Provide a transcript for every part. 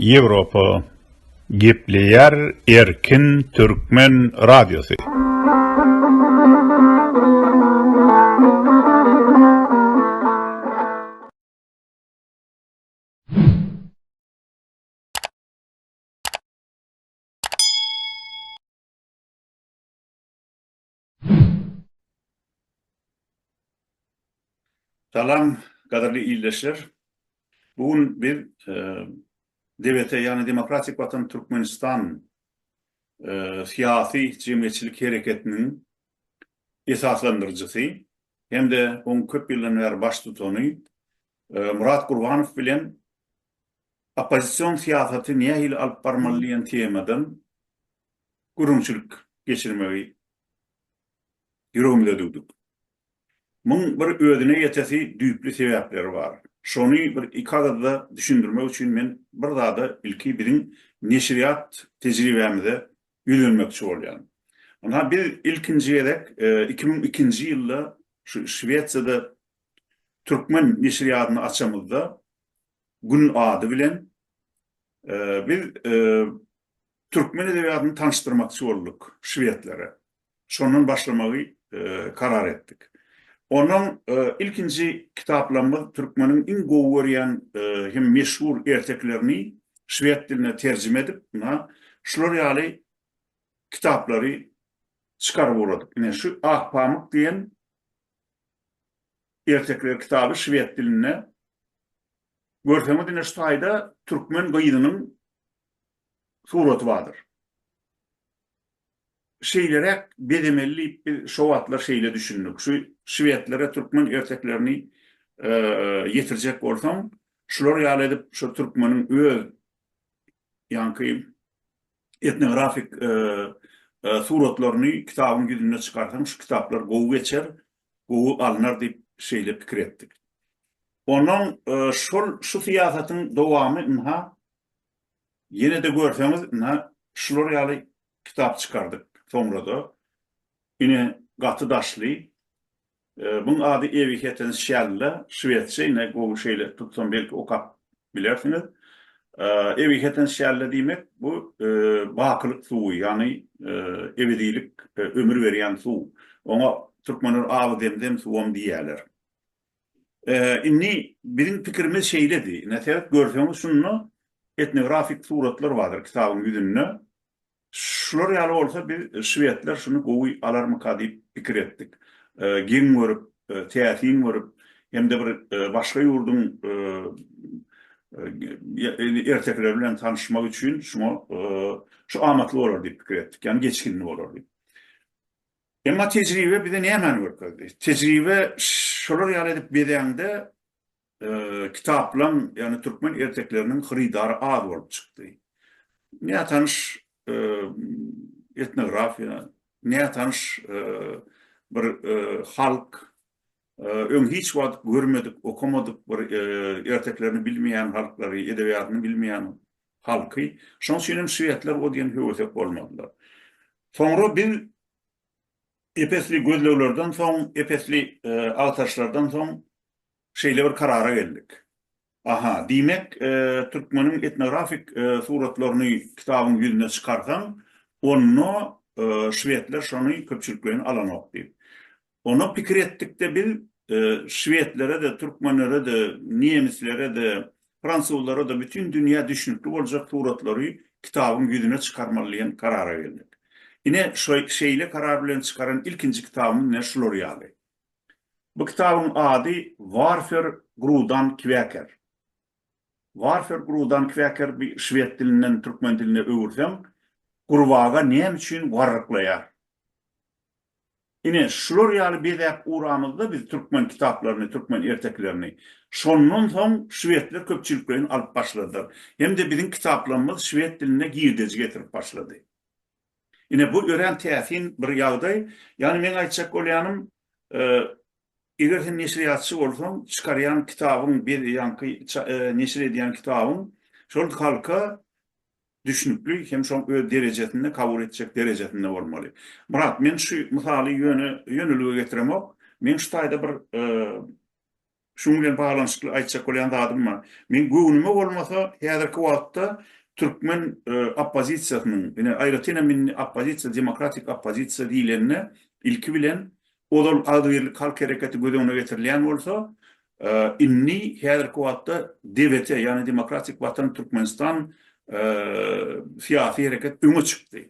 Ýewropa gepleýär erkin türkmen radiosy. Salam, gadyrly ildeşler. Bu gün biz DBT, ýagny Demokratik Watan Türkmenistan syýasy jemgyýetçilik hereketiniň esaslandyryjysy hem-de oň köp ýyldan bäri baştutany Murat Gurbanow bilen oppozision syýasaty nähili alyp barmaly diýen temadan gürrüňçilik geçirmegi ýüregimize düwdük. Muň bir özüne ýetesi düýpli sebäpleri bar. Şony bir iki agyzda düşündirmek üçin men bir zada ilki biziň neşirýat tejribämize ýüzlenmekçi bolýan. Ynha biz ilkinji gezek iki müň ikinji ýylda şu Şwesiýada türkmen neşirýadyny açamyzda Gün ady bilen biz Türkmen edebiýatyny tanyşdyrmakçy bolduk şwedlere. Şondan başlamagy karar etdik. Ondan ilkinji kitaplarymyz türkmeniň iň gowy görýän hem meşhur ertekilerini şwed diline terjime edip, ynha, şular ýaly kitaplary çykaryp ugradyk. Ine, şu Akpamyk diýen ertekiler kitaby şwed dilinde. Görseňiz, ine, şu taýda türkmen gyzynyň suraty bardyr. Şeýleräk bezemeli diýip biz şo wagtlar şeýle düşündik. Şu şwedlere türkmen erteklerini ýetirjek bolsaň, şular ýaly edip şo türkmeniň öz ýaňky etnografik suratlaryny kitabyň ýüzünde çykarsaň, şu kitaplar gowy geçer, gowy alnar diýip şeýle pikir etdik. Ondan şol şu syýasatyň dowamy ynha Ýene-de görseňiz, ine, şular ýaly kitap çykardyk soňra-da. Ine, gaty daşly. Muň ady Ewihetens Şälla, şwedçe, ine, gowy şeýle tutsam belki okap bilersiňiz. Ewihetens Şälla diýmek, bu bakylyk suwy, ýagny ebedilik, ömür berýän suw. Oňa türkmenler Awy zemzem suwam diýýärler. Indi biziň pikirimiz şeýledi. Ine, seret, görseňiz, şunda etnografik suratlar bardyr kitabyň ýüzünde. Şular ýaly bolsa, biz, şwedler şuny gowy alarmyka diýip pikir etdik. Geň görüp, täsin görüp, hem-de bir başga ýurduň ertekileri bilen tanyşmak üçin şuňa şu amatly bolar diýip pikir etdik. Ýagny geçginli bolar diýip. Emma tejribe bize nämäni görkezdi? Tejribe şolar ýaly edip bezäňde kitaplaň, ýagny türkmen ertekleriniň hyrydary az bolup çykdy. Nätanyş etnografiýa, nätanyş bir halk, Öň hiç wagt görmedik, okamadyk bir erteklerini bilmeýän halklary, edebiýatyny bilmeýän halky. Şonuň üçin hem şwedler o diýen höwesek bolmadylar. Soňra biz ep-esli gözleglerden soň, ep-esli agtaryşlardan soň şeýle bir karara geldik. Aha, diýmek, türkmeniň etnografik suratlaryny kitabyň ýüzüne çykarsaň, onda şwedler şony köpçülikleýin alanok diýip. Onda pikir etdik-de biz, şwedlere-de, türkmenlere-de, nemislere-de, fransuzlara-da bütin dünýä düşnükli boljak suratlary kitabyň ýüzüne çykarmaly diýen karara geldik. Ine, şeýle karar bilen çykaran ilkinji kitabymyz ine şular ýaly. Bu kitabyň ady Warfer Grudan Kweker. Warfer Grudan Kweker bi şwed dilinden türkmen diline öwürseň, gurbaga näme üçin warryklaýar? Ine, şular ýaly bezäp uramyzda biz türkmen kitaplaryny, türkmen ertekilerini. Şondan soň şwedler köpçülikleýin alyp başladylar. Hem-de biziň kitaplarymyz şwed diline girdeji getirip başlady. Ine, bu örän täsin bir ýagdaý. Ýagny meň aýtjak bolýanym, eger sen neşirýatçy bolsaň, çykarýan kitabyň, ýaňky neşir edýän kitabyň şol halka düşnükli hem şoň öz derejesinde, kabul etjek derejesinde bolmaly. Myrat, men şu mysaly ýöne ýönelige getiremok. Meň şu taýda bir Şunuň bilen baglanyşykly aýtjak bolýan zadym bar. Meň göwnüme bolmasa, häzirki wagtda türkmen oppozisiýasynyň, ine, aýratyn hem indi oppozisiýa, demokratik oppozisiýa diýlende, ilki bilen, ozal agzybirlik halk hereketi göz öňüne getirilýän bolsa, indi häzirki wagtda DWT, ýagny Demokratik Watan Türkmenistan syýasy hereket öňe çykdy.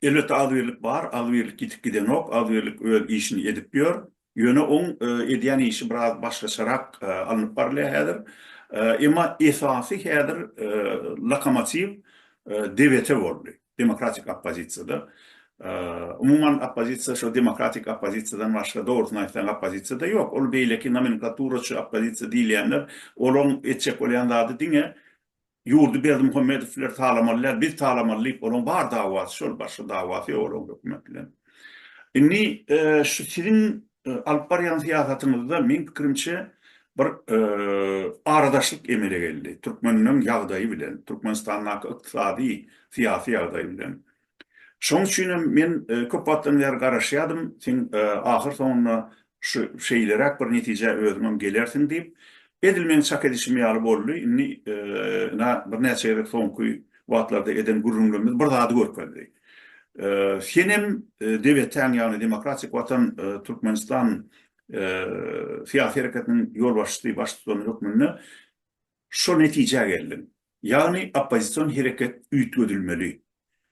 Elbetde agzybirlik bar, agzybirlik ýitip gidenok, agzybirlik öz işini edip ýör. Ýöne oň edýän işi biraz başgaçarak alnyp barylýar häzir. Emma esasy häzir lokomotiw DVT boldy, demokratik oppozisiýada. Umuman oppozisiýa şo demokratik oppozisiýadan başga dogrusyny aýtsaň oppozisiýada ýok. Ol beýleki nomenklaturaçy oppozisiýa diýilýänler olaň etjek bolýan zady diňe Ýurdy Berdimuhamedowler talamaly däl, biz talamaly diýip, olaň bar dawasy şol, başga dawasy ýok olaň hökümet bilen. Indi şu siziň alyp barýan syýasatyňyzda meň pikirimçe bir aradaşlyk emele geldi. Türkmenleriň ýagdaýy bilen, Türkmenistandaky ykdysady, syýasy ýagdaý bilen. Şoň üçin hem men köp wagtdan bäri garaşýardym, sen ahyr soňunda şu şeýleräk bir netijä özüňem gelersiň diýip, edil meň çak edişim ýaly boldy. Indi ina birnäçe gezek soňky wagtlarda eden gürrüňlerimiz bir zady görkezdi. Sen hem DWT-niň, ýagny Demokratik Watan Türkmenistan syýasy hereketiniň ýolbaşçysy, baştutany hökmünde Şo netijä geldim. Ýagny oppozision hereket üýtgedilmeli.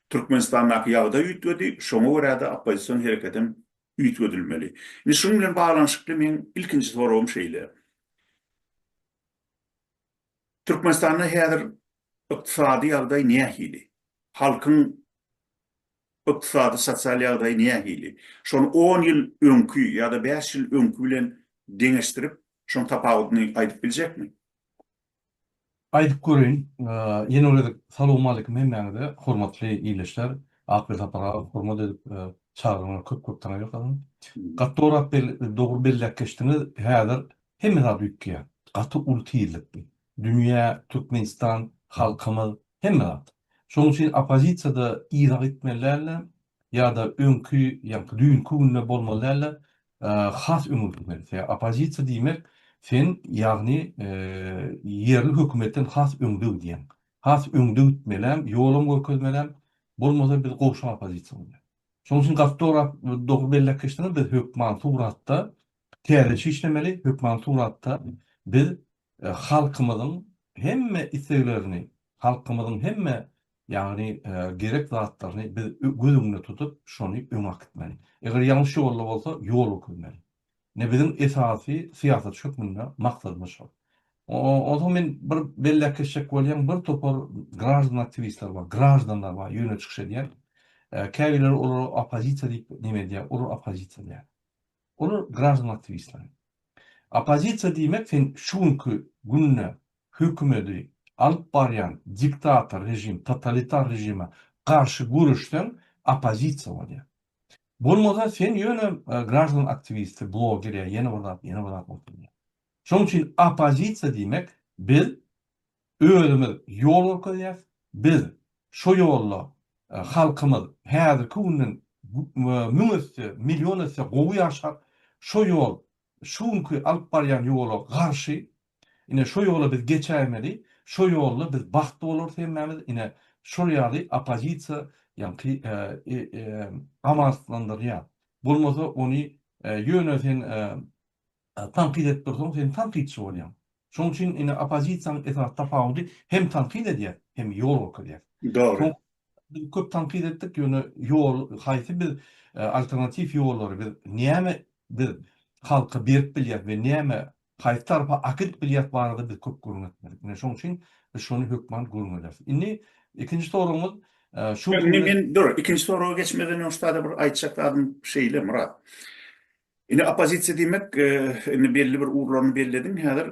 Türkmenistandaky ýagdaý üýtgedi, şoňa görä-de oppozision hereketem üýtgedilmeli. Indi şunuň bilen baglanyşykly meň ilkinji soragym şeýle. Türkmenistanda häzir ykdysady ýagdaý nähili? Halkyň ykdysady-sosial ýagdaýy nähili? Şony on ýyl öňki ýa-da bäş ýyl öňki bilen deňeşdirip Şoň tapawudyny aýdyp biljekmi? Aýdyp göreýin. Ýene bir gezek salowmalikim hemmäňize, hormatly ildeşler. Akbil Sapargazow hormat edip çagyranyňa köp-köp taňa ýokarsyn. Gaty dogry Akbil, dogry belläp geçdiňiz. Häzir hemme zat üýtgeýär. Gaty uly tizlikde. Dünýä, Türkmenistan, halkymyz, hemme zat. Şonuň üçin oppozisiýa-da yza gitmeli däldir ýa-da öňki, ýaňky düýnki günde bolmaly däldir. has öňe gitmeli. Sebäbi oppozisiýa diýmek, sen ýagny ýerli hökümetden has öňde gidýäň. Has öňde gitmelem, ýolam görkezmelem, bolmasa biz gowşak oppozisiýa bolýar. Şonuň üçin gaty dorap, dogry belläp geçdiňiz, biz hökman suratda täzeçe işlemeli, hökman suratda biz halkymyzyň hemme isleglerini, halkymyzyň hemme Ýagny gerek zatlaryny biz göz öňünde tutup, şony öňe akitmeli. Eger ýalňyş ýolda bolsa, ýol ökürmeli. Ine biziň esasy syýasatçy hökmünde maksadymyz şol. Onsoň men bir belläp geçjek bolýan bir topar graždan aktiwistler bar, graždanlar bar, ýöne çykyş edýän. Käbirleri olara oppozisiýa diýip neme edýär, olar oppozisiýa diýýär. Olar graždan aktiwistler. Oppozisiýa diýmek sen şu günki günde hökümedi alyp barýan diktator režim, totalitar režime garşy göreşseň oppozisiýa bolýar. Bolmasa sen ýöne graždan aktiwisti, bloger ýa ýene bir zat, ýene bir zat bolup bilýär. Şonuň üçin oppozisiýa diýmek biz Özümiz ýol görkezýäs. Biz şu ýolda halkymyz häzirki günden müň esse, million esse gowy ýaşar. Şu ýol şu günki alyp barýan ýola garşy. Ine şu ýola biz geçäýmeli. Şu ýolda biz bagtly bolarys hemmämiz. Ine şol ýaly oppozisiýa ýaňky amanslandyrýar. Bolmasa ony ýöne sen Tankyt edip dursaň sen tankytçy bolýaň. Şoň üçin indi oppozisiýanyň esasy tapawudy hem tankyt edýär, hem ýol görkezýär. Dogry. Biz köp tankyt etdik, ýöne ýol haýsy biz alternatiw ýollary biz näme biz halka berip bilýäs we näme haýsy tarapa akydyp bilýäs barada biz köp gürrüň etmedik. Ine şoň üçin biz şony hökman gürrüň ederis. Indi ikinji soragyňyz şu Indi men dur ikinji soraga geçmeden öň şu taýda bir aýtjak zadym şeýle Myrat. Indi oppozisiýa diýmek, indi belli bir ugurlaryny bellediň häzir,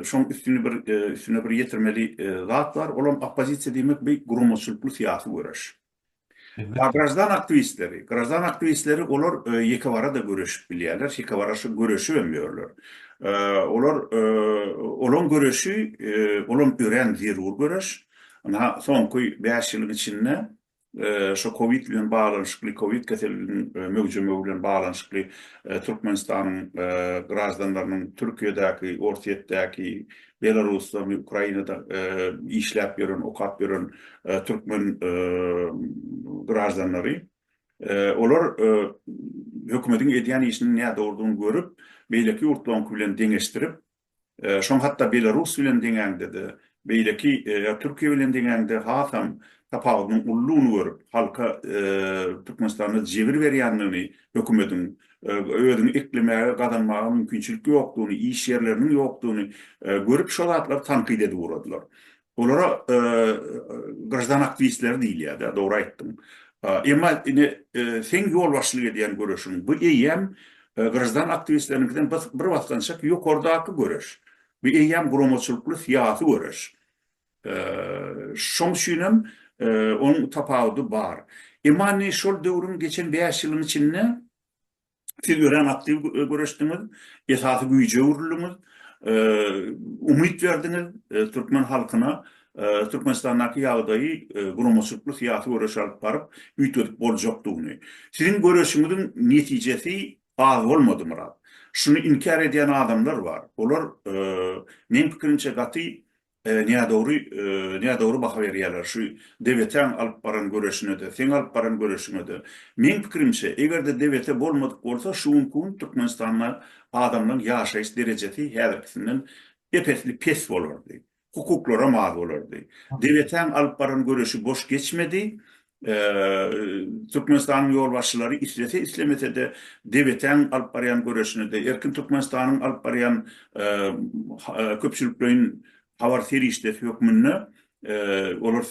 şoň üstüni bir üstüne bir ýetirmeli zat bar, ol hem oppozisiýa diýmek bu guramaçylykly syýasy göreş. A graždan aktiwistleri, graždan aktiwistleri olar ýekewara-da göreşip bilýärler, şekewara şo göreşip hem ýörler. Olar olaň göreşi, olam örän zerur göreş. Ynha, soňky bäş ýylyň içinde şu kowid bilen baglanyşykly, kowid keseliniň möwjemegi bilen baglanyşykly Türkmenistanyň graždanlarynyň Türkiýedäki, Orsýetdäki, Belarusda we Ukrainada işläp ýören, okap ýören türkmen graždanlary, olar hökümetiň edýän işiniň nädogrudygyny görüp, beýleki ýurtlaryňky bilen deňeşdirip, Şoň hatda Belarus bilen deňäňde-de, beýleki ýa Türkiýe bilen deňäňde hasam tapawudynyň ullugyny görüp, halka Türkmenistanda jebir berýändigini hökümediň, özüňi eklemäge, gazanmaga mümkinçilik ýokdugyny, iş ýerleriniň ýokdugyny görüp şo zatlary tankyt edip ugradylar. Olara graždan aktiwistleri diýilýär-dä, dogry aýtdyň. Emma indi seň ýolbaşçylyk edýän göreşiň, bu eýýäm graždan aktiwistleriniňkiden bir basgançak ýokardaky göreş. Bu eýýäm guramaçylykly syýasy göreş. Şoň üçin hem onuň tapawudy bar. Emma indi şol döwrüň geçen bäş ýylyň içinde Siz örän aktiw göreşdiňiz, esasy güýje öwrüldiňiz, umyt berdiňiz türkmen halkyna Türkmenistandaky ýagdaýy guramaçylykly-syýasy göreş alyp baryp üýtgedip boljakdygyny. Siziň göreşiňiziň netijesi az bolmady Myrat. Şuny inkär edýän adamlar bar. Olar meň pikirimçe gaty Nädogry nädogry baha berýärler şu Debetäň alyp baran göreşinede seň alyp baran göreşiňede meň pikirimçe egerde Debete bolmadyk bolsa şu günki gün Türkmenistanda adamlaň ýaşaýyş derejesi häzirkisinden epesli pes bolardy hukuklaram az bolardy Debetäň alyp baran göreşi boş geçmedi Türkmenistanyň ýolbaşçylary islese-islemese-de DBT-iň alyp barýan göreşine-de, Erkin Türkmenistanyň alyp barýan köpçülikleýin habar serişdesi hökmünde olar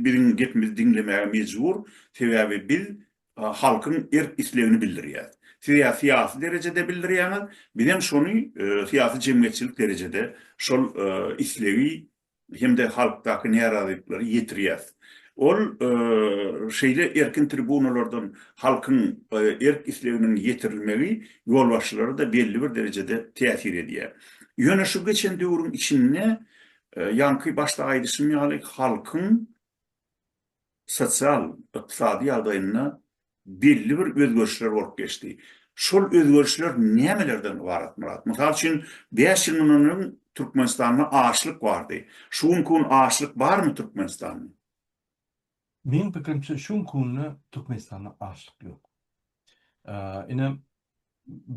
biziň gepimizi diňlemäge mejbur, sebäbi biz halkyň erk-islegini bildirýäs. Siz ýa syýasy derejede bildirýäňiz, biz hem şony syýasy-jemgyýetçilik derejede şol islegi hem-de halkdaky närazylyklary ýetirýäs. Ol şeýle erkin tribunalardan halkyň erk-isleginiň ýetirilmegi ýolbaşçylara-da belli bir derejede täsir edýär. Ýöne şu geçen döwrüň içinde, ýaňky başda aýdyşym ýaly, halkyň sosial, ykdysady ýagdaýynda belli bir özgerişler bolup geçdi. Şol özgerişler nämelerden ybarat, Myrat? Mysal üçin, bäş ýyl mundan öň Türkmenistanda açlyk bardy. Şu günki gün açlyk barmy Türkmenistanda? Meniň pikirimçe, şu günki günde Türkmenistanda açlyk ýok. Ine,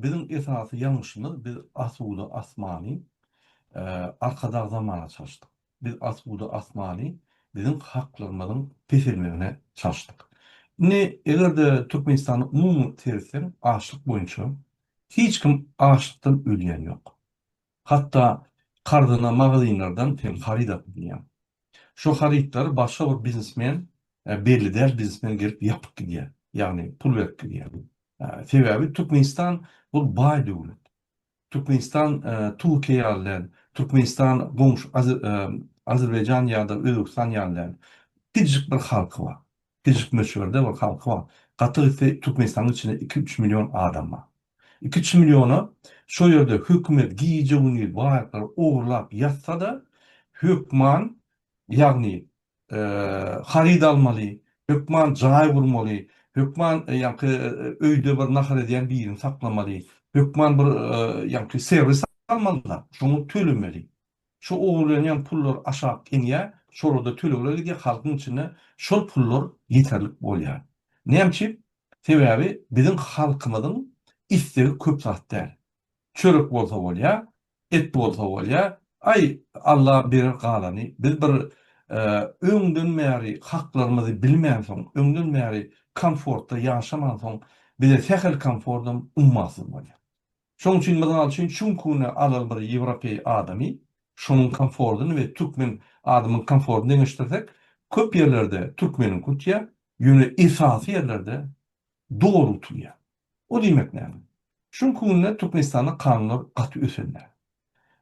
Biziň esasy ýalňyşymyz biz asuda asmany arkadag zamana çalşdyk. Biz asuda asmany biziň haklygymyzyň peselmegine çalşdyk. Indi eger-de Türkmenistana umumy seretseň açlyk boýunça hiç kim açlykdan ölýän ýok. Hatda karzyna magazynlardan hem haryt alyp ynýar. Şo harytlary başga bir biznesmen, belli däl biznesmen gelip ýapyp gidýär. Ýagny pul berip gidýär. Sebäbi Türkmenistan bu baý döwlet. Türkmenistan Türkiýe ýaly däl. Türkmenistan goňşy Azerbaýjan ýa-da Özbegistan ýaly däl. Kiçijik bir halky bar. Kiçijik möçberde bir halky bar. Gaty gitse Türkmenistanyň içinde iki-üç million adam bar. Iki çi milliona şo ýerde hökümet gije gündiz baýaklary ogurlap ýatsa-da, hökman, ýagny, haryt almaly, hökman jaý gurmaly, hökman ýaňky öýde bir nahar edýän birini saklamaly, hökman bir ýaňky serwis almaly-da, şoňa tölemeli. Şo ogurlanýan pullar aşak inýär, şolarda tölegler gidýär, halkyň içinde şol pullar ýeterlik bolýar. Näme üçin? Sebäbi biziň halkymyzyň istegi köp zat däl. Çörek bolsa bolýa, et bolsa bolýa, aý, Alla berer galany, biz bir öňden bäri haklarymyzy bilmänsoň, öňden bäri komfortda ýaşamansoň bize sähel komfortam ummasyz bolýa. Şoň üçin, mysal üçin, Çunkuny alaly bir ýewropeý adamy, şonuň komfordyny we türkmen adamyň komfordyny deňeşdirsek, köp ýerlerde türkmeniňki utýar, ýöne esasy ýerlerde doly utulýar. O diýmek näme? Çunkunde Türkmenistanda kanunlar gaty ösen däl.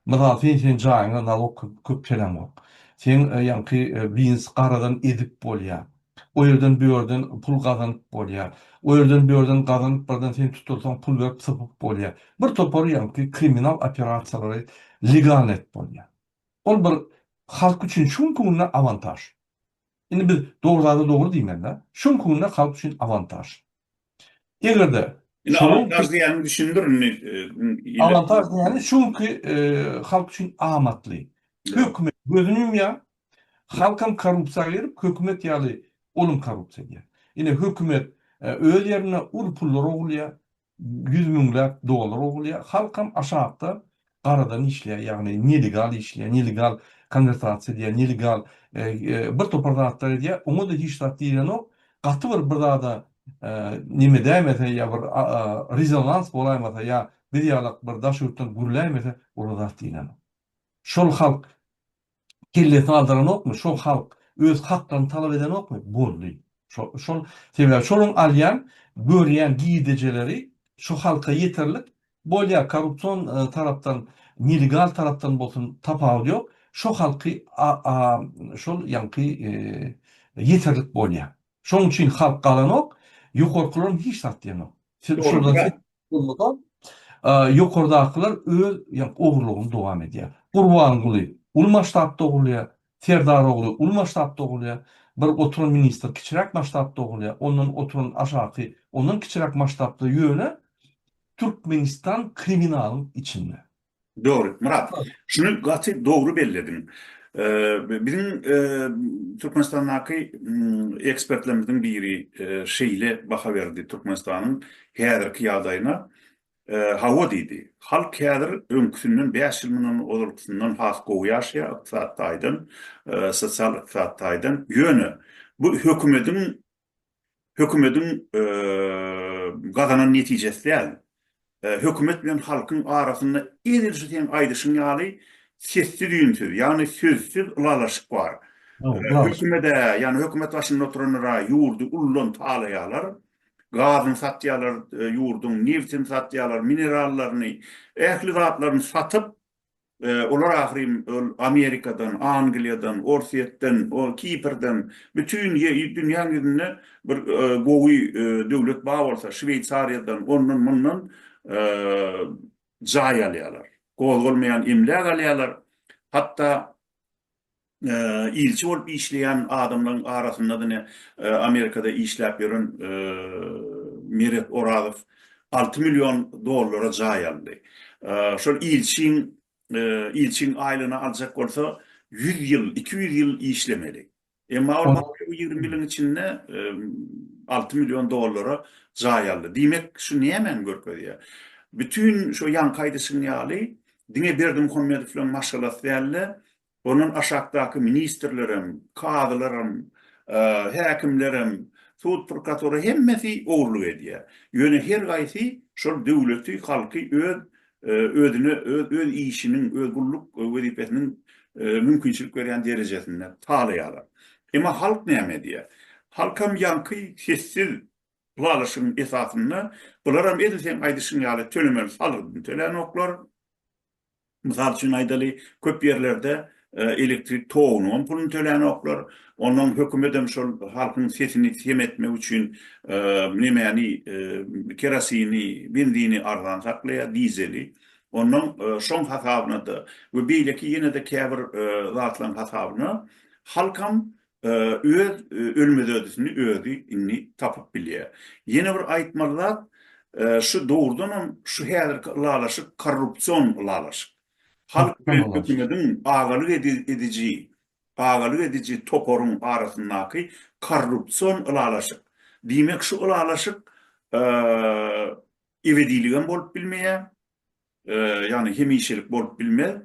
Mysal sen seň jaýyňa nalog köp köp töläňok. Seň ýaňky bins garadan ezip bolýa. O ýerden bu ýerden pul gazanyp bolýa. O ýerden bu ýerden gazanyp birden sen tutulsaň pul berip sypyp bolýa. Bir topar ýaňky kriminal operasiýalary legalny edip bolýa. Ol bir halk üçin şuň künde awantaž. Indi biz dogry zada dogry diýmelidä. Şuň künde halk üçin awantaž. Eger-de Indi awantaž diýýäniňi düşündir indi ýerli. Awantaž diýýäni şu günki halk üçin amatly. Hökümet gözüni ýumýar, halkam korrupsiýa girip, hökümet ýaly olum korrupsiýa diýýär. Ine hökümet öz ýerinde uly pullar ogurlaýar, ýüz müňläp dollar ogurlaýar, halkam aşakda garadan işleýär, ýagny nelegal işleýär, nelegal konwertasiýa edýär, nelegal bir topar zatlar edýär, oňa-da hiç zat diýilenok, gaty bir bir zada neme dämese ýa bir rezonans bolaýmasa ýa biz ýalak bir daş ýurtdan gürläýmese olar zat diýilenok. Şol halk. kellesini aldyranokmy, şo halk öz haklaryny talap edenokmy, boldy. Şo, şol, sebäbi şolaryň alýan, görýän girdejeleri şo halka ýeterlik, bolýar, korrupsion tarapdan, nelegal tarapdan bolsun tapawudy ýok, şo halky a, a, şol ýaňky ýeterlik bolýar. Şonuň üçin halk galanok, ýokarkylaram hiç zat diýenok. Onda-da ýokardakylar öz ogurlygyny dowam edýär. Gurbanguly uly masştabda ogurlaýar, Serdarogly uly masştabda ogurlaýar, bir oturan ministr kiçiräk masştabda ogurlaýar, ondan oturan aşaky ondan kiçiräk masştabda, ýöne Türkmenistan kriminalyň içinde. Dogry, Myrat. Şuny gaty dogry bellediň. Biziň Türkmenistandaky ekspertlerimiziň biri şeýle baha berdi Türkmenistanyň häzirki ýagdaýyna. Hawa diýdi. Halk häzir öňküsinden bäş ýyl mundan ozalkysyndan has gowy ýaşaýar ykdysady taýdan, sosial-ykdysady taýdan. Ýöne bu hökümediň hökümetiň gazanan netijesi däl. Hökümet bilen halkyň arasynda edil şu seň aýdyşyň ýaly sessiz-üýnsüz, ýagny sözsüz ylalaşyk bar. Hökümede, ýagny hökümet başynda oturanlara ýurdy uldan talaýarlar. Gazyny satýarlar, ýurduň nebtini satýarlar, minerallaryny, ähli zatlaryny satyp, Olar ahyryn ol Amerikadan, Angliýadan, Orsýetden, ol Kiprden, bütin dünýäň ýüzünde bir gowy döwlet bar bolsa, Şweýsariýadan, ondan-mundan jaý alýarlar. Gozgalmaýan emläk alýarlar. Hatda ilçi bolup işleýän adamlaryň arasynda diňe Amerikada işläp ýören Meret Orazow alty million dollara jaý aldy. Şol ilçiň ilçiň aýlygyny aljak bolsa ýüz ýyl, iki ýüz ýyl işlemeli. Emma ol bu ýigrimi ýylyň içinde alty million dollara jaý aldy. Diýmek şu nämäni görkezýär? Bütin şu ýaňky aýdyşyň ýaly diňe Berdimuhamedowlaň maşgalasy däl-de, Ondan aşakdaky ministrlerem, kazylaram, häkimlerem, sud prkatura hemmesi ogurlyk edýär. Ýöne her gaýsy şol döwleti, halky öz özüne öz öz işiniň, öz gulluk wezipesiniň mümkinçilik berýän derejesinde talaýarlar. Emma halk näme edýär? Halkam ýaňky sessiz ylalaşygyň esasynda bularam edil seň aýdyşyň ýaly tölemeli salgydyny tölänoklar, Mysal üçin aýdaly, köp ýerlerde elektrik togunyň hem puluny tölänoklar, ondan hökümedem şol halkyň sesini sem etmek üçin nemäni, kerosini, benzini arzan saklaýar, dizeli. Ondan şoň hasabyna-da we beýleki ýene-de käbir zatlaryň hasabyna halkam Öz ölmezödüsini özi indi tapyp bilýär. Ýene bir aýtmaly zat, şu dogrudan hem şu häzirki ylalaşyk korrupsion ylalaşyk. Halk bilen hökümediň agalyk ediji, agalyk ediji toparyň arasyndaky korrupsion ylalaşyk. Diýmek şu ylalaşyk ebediligem bolup bilmeýär. ýagny hemişelik bolup bilmez,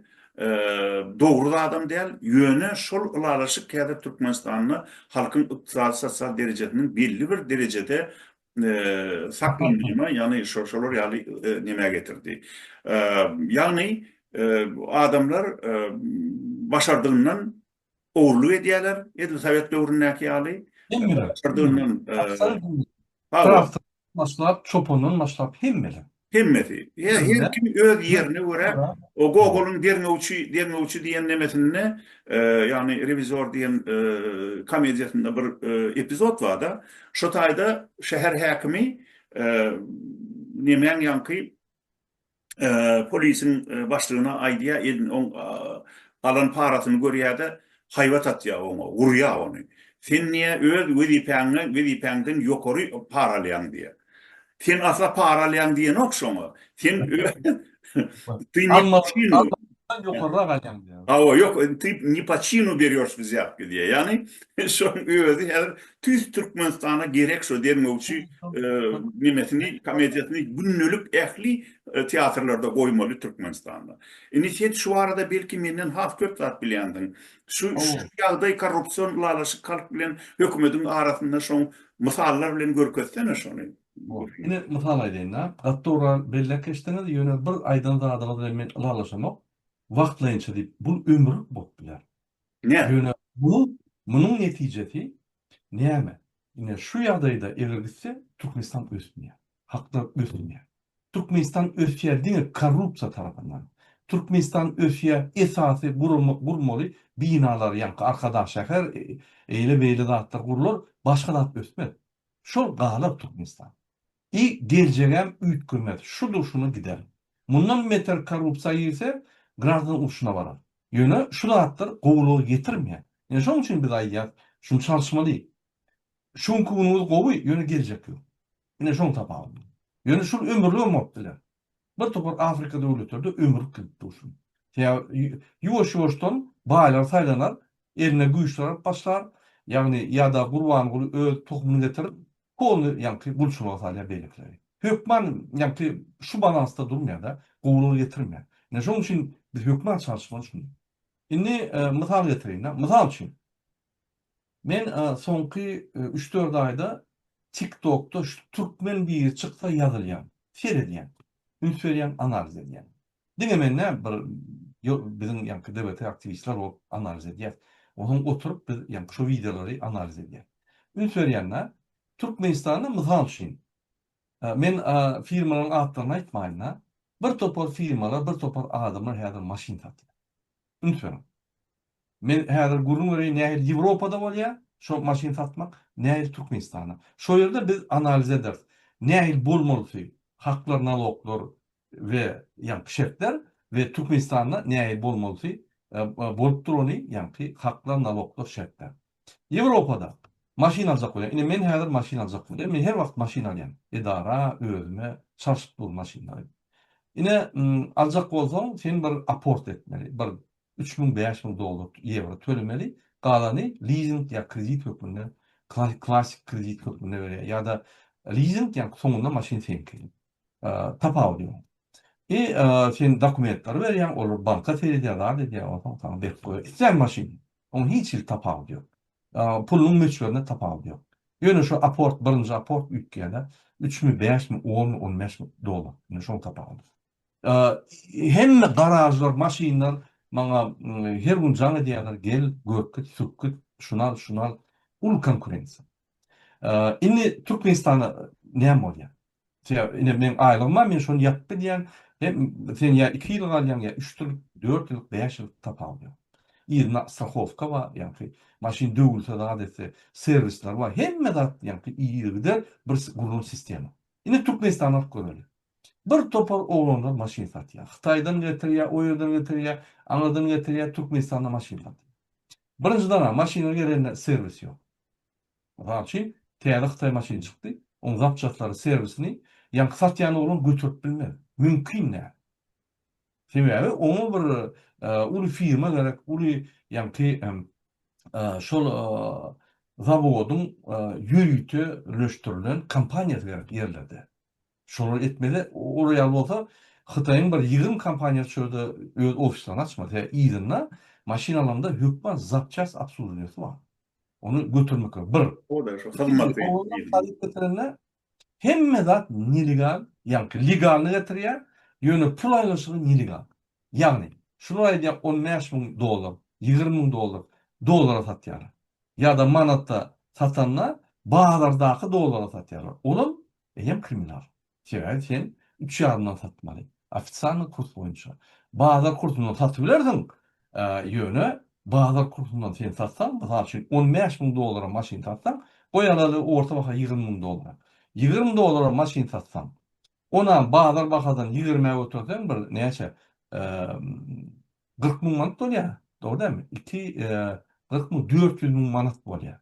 dogry zadam däl, ýöne şol ylalaşyk häzir Türkmenistanda halkyň ykdysady-sosial derejesiniň belli bir derejede saklanmagyna, ýagny şolar ýaly nämä getirdi. Ýagny adamlar başardygyndan ogurlyk edýärler, edil sowet döwründäki ýaly. Hemmeler. Başardygyndan, Krafty başlap, çopandan başlap hemmeler. Hemmesi. Her kim öz ýerine görä, o Gogolyň derňewçi, derňewçi diýen nemesinde, ýagny rewizor diýen komediýasynda bir epizod bar-da, şo taýda şäher häkimi nemäň ýaňky polisiň başlygyna aýdýar, elin oň alan parasyny görýär-de, haýbat atýar oňa, urýar ony. Sen niýe öz wezipäňden, wezipäňden ýokary para alýaň diýýär. Sen asla para alýaň diýenok şoňa. Sen öz Ondan ýokarrak alýaň diýýär. Hawa, ýok, ty ne po çinu berýoş biz ýapki diýýär. Ýagny şoň özi häzir tüýs Türkmenistana gerek şo derňewçi nemesini, komediýasyny gündelik ähli teatrlarda goýmaly Türkmenistanda. Indi sen şu barada belki menden has köp zat bilýänsiň. Şu ýagdaý korrupsion ylalaşyk halk bilen hökümediň arasynda şoň mysallar bilen görkezsene şony. Ine, mysal aýdaýyn-da, gaty dogry belläp geçdiňiz, ýöne bir aýdan zadyňyz bilen men ylalaşamok, wagtlaýynça diýip, bul ömürlik bolup biler. Näme? Ýöne munuň, munuň netijesi näme? Ine, şu ýagdaýda eger gitse, Türkmenistan ösmeýär, halklar ösmeýär. Türkmenistan ösýär diňe korrupsiýa tarapyndan. Türkmenistan ösýär esasy gurama, gurmaly binalar, ýaňky Arkadagşäher, eýle-beýle zatlar gurlar, başga zat ösmez. Şol galar Türkmenistan. I geljegem üýtgemez şudur şuna gider. Mundan meter korrupsiýa girse graždan urşuna barar. Ýöne şu zatlar gowulyga getirmýär. Ine şoň üçin biz aýdýas şuny çalyşmaly. Şu günki günüňiz gowy ýöne geljek ýok. Ine şoň tapawudy. Ýöne şul ömürligem bolup biler. bir topar Afrika döwletlerde ömür kylp dursun. Sebäbi ýuwaş-ýuwaşdan baýlar saýlanar, eline güýçler alyp başlar, ýagny ýa-da Gurbanguly öz tohumyny getirip, polny ýaňky gulçulyga salýar beýlekileri. Hökman ýaňky şu balansda durmaýar-da, gowulygy getirmeýär. Ine şonuň üçin biz hökman çalşmaly şunda. Indi mysal getireýin-de. Mysal üçin, Men soňky üç-dört aýda TikTokda şu türkmen biri çyksa ýazylýan, seredýän, üns berýän, analiz edýän. Diňe men däl, bir biziň ýaňky DBT aktiwistler bolup analiz edýäs. Onuň oturyp biz ýaňky şu wideolary analiz edýäs. Üns berýän-dä. Türkmenistanda mysal üçin, men firmalaryň atlaryny aýtmaýyn-da, bir topar firmalar, bir topar adamlar häzir maşyn satýar. Üns beriň. Men häzir gürrüň bereýin nähili Ýewropada bolýar şo maşyn satmak, nähili Türkmenistanda. Şo ýerde biz analiz ederis. Nähili bolmalysy, haklar, naloglar we ýaňky şertler we Türkmenistanda nähili bolmalysy, bolup durany, ýaňky haklar, naloglar, şertler. Ýewropada maşyn aljak bolýan. Ine men häzir maşyn aljak bolýan. Men her wagt maşyn alýan. Edara, özüme, çalşyp dur maşynlary. Ine aljak bolsaň sen bir aport etmeli. Bir üç müň, bäş müň dollar, ýewro tölemeli. Galany lizing ýa kredit hökmünde, klassyk kredit hökmünde berýär. Ýa-da lizing ýa soňunda maşyn seňki. Tapawudy ýok. I sen dokumentleri berýäň, olar banka seredýär, zat edýär, onsoň saňa berip goýýar. Islän maşyny. Oň hiç hili tapawudy ýok. Pulunyň möçberinde tapawudy ýok. Ýöne şu aport, birinji aport üýtgäne üçmi, bäşmi, onmy, on bäşmi dollar. Indi şoň tapawudy. Hemme garažlar, maşynlar maňa her gün jaň edýärler, gel, görkit, sürkit, şuny al, şuny al. Uly konkurensiýa. Indi Türkmenistana näme bolýar? Sebäbi ine meň aýlygym bar, men şony ýapyp gidýän, hem sen ýa iki ýyl galýaň, ýa üç ýyl, dört ýyl, bäş ýyl tapawudy ýok. Yzyna strahowka bar, ýagny maşyn döwülse zat etse, serwisler bar, hemme zat ýagny ýergider bir gurlan sistema. Indi Türkmenistany alyp göreli. Bir topar oglanlar maşyn satýar. Hytaýdan getirýär, o ýerden getirýär, aňyrdan getirýär, Türkmenistanda maşyn satýar. Birinjidanam maşyna gerende serwis ýok. Mysal üçin, täze hytaý maşyny çykdy, oň zapçaslary, serwisini ýaňky satýan oglan göterip bilmez. Mümkin däl. Sebäbi oňa bir uly firma gerek, uly ýaňky şol zawodyň ýörite ürleşdirilen kompaniýasy gerek ýerlerde. Şolary etmeli. Olar ýaly bolsa Hytaýyň bir ýigrimi kompaniýasy şu ýerde öz ofislaryny açmaly. Sebäbi yzynda maşynalarynda hökman zapçast obsluženiýasy bar. Ony götermek gerek. Bir. O-da şu hyzmaty. Owaldan haryt getirende hemme zat nelegal, ýaňky legalny getirýär, ýöne pul aýlanyşygy nelegal. Ýagny şular aýdýar on bäş müň dollar, ýigrimi müň dollar dollara satýarlar. Ýa-da manatda satanda bazardaky dollara satýarlar. Olam Eýýäm kriminal. Sebäbi sen üç ýarymdan satmaly. Ofisialnyý kurs boýunça. Bazar kursundan satybilersiň, ýöne bazar kursundan sen satsaň, mysal üçin, on bäş müň dollara maşyn satsaň, goý alaly orta baha ýigrimi müň dollara. Ýigrimi dollara maşyn satsaň, onam bazar bahadan ýigrimä göterseň bir näçe, kyrk müň manat bolýar. Dogry dälmi? Iki, kyrk müň, dört ýüz müň manat bolýar.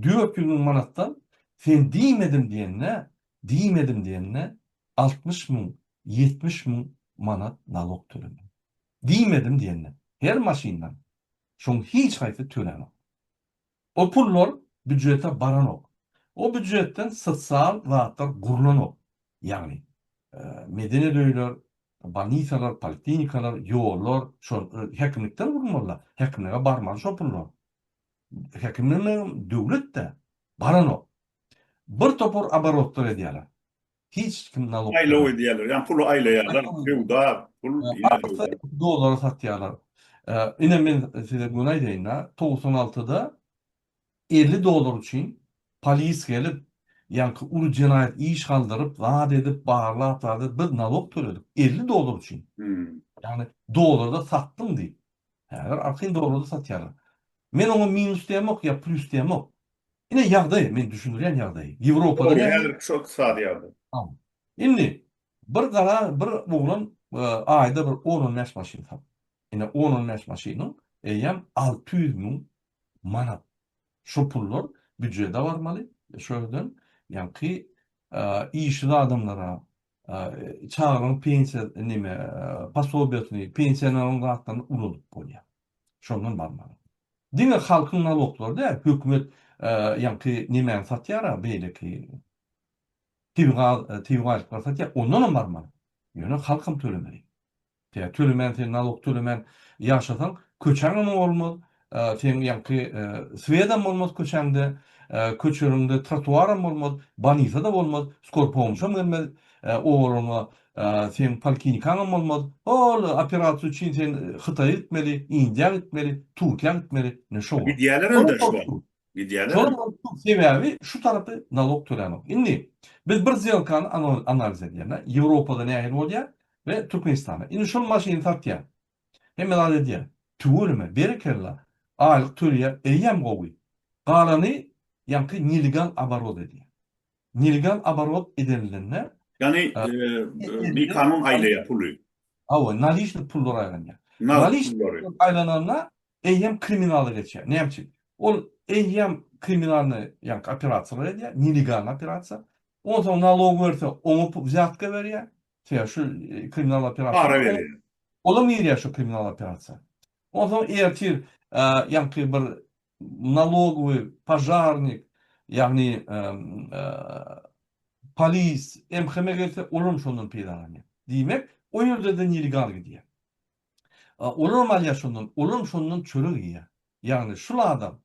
Dört ýüz müň manatdan sen diýmedim diýende, diýmedim diýende altmyş müň, ýetmiş müň manat nalok tölemeli. Diýmedim diýende her maşyndan şoň hiç haýsy tölenok. O pullar býujete baranok. O býujetden sosial zatlar gurlanok. Ýagny, medeniýet öýler, bolnisalar, poliklinikalar, ýollar şol häkimlikden gurulmaly-la, häkimlige barmaly şo pullar. Häkimlerle döwlet-de baranok. Bir topar aborotlar edýärler. Hiç kim nalog. Aýlaw edýärler. Ýa puly aýlaýarlar. Söwda, pul. Dollara satýarlar. Ine men size göni aýdaýyn-da, togsan altyda elli dollar üçin polis gelip, ýaňky uly jenaýat iş galdyryp, zat edip, barlap, zat edip, biz nalog töledik. Elli dollar üçin. Ýagny dollarda satdyň diýip. Häzir arkaýyn dollarda satýarlar. Men oňa minus diýemok ýa plýus diýemok. Ine ýagdaý, men düşündirýän ýagdaýy. Ýewropada näme? Dogry, häzirki şu ykdysady ýagdaý. Tamam. Indi bir gara bir oglan aýda bir on-on bäş maşyn sat. Ine on-on bäş maşynyň eýýäm alty ýüz müň manat. Şu pullar býujede barmaly, şu ýerden ýaňky işsiz adamlara Çagaň pensiýa neme posobiýasyny, pensioneriň zatlaryny ulanyp bolýar. Şondan barmaly. Diňe halkyň naloglary däl, hökümet ýaňky nemäni satýar-a, beýleki tebigy tebigy aýlyklary satýar, ondanam barmaly. Ýöne halkam tölemeli. Tä tölemän sen nalog tölemän ýaşasaň köçäňem bolmaz, seň ýaňky swedam bolmaz köçäňde, köçäňde trotuaram bolmaz, bolnisada bolmaz, skor pomuşam gelmez, obalaryňa seň polkinikaňam bolmaz, hol operasiýa üçin sen hytaýa gitmeli, indiýa gitmeli, turkiýa gitmeli, ne şowa. Gidýäler indi şuwagt. Şolar bolup dur, sebäbi şu tarapy nalog tölänok. Indi biz bir zýelkany analiz edýän-ä, Ýewropada nähili bolýar we Türkmenistanda. Indi şol maşyny satýan. Hemme zat edýän. Tüweleme, berekella, aýlyk tölýär, eýýäm gowy. Galany ýaňky nelegal oborot edýär. Nelegal oborot edenlinde. Ýagny bikanun aýlaýar puly. Hawa, nalişnik pullar aýlanýar. Nalişnik pullar aýlananda Eýýäm kriminala geçýär. Näme üçin? Ol eýýäm kriminalnyý ýaňky operasiýalar edýär, nelegalnyý operasiýa. Onsoň nalog berse, oňa pul, wzýatka berýär. Sebäbi şu kriminal operasiýa. Para berýär. Olam girýär şu kriminal operasiýa. Onsoň ertir ýaňky bir nalogowy, požarnik, ýagny polis, MHM gelse, olam şondan peýdalanýar. Diýmek, o ýerde-de nelegal gidýär. Olam alýar şondan, olam şondan çörek iýýär. Ýagny şul adam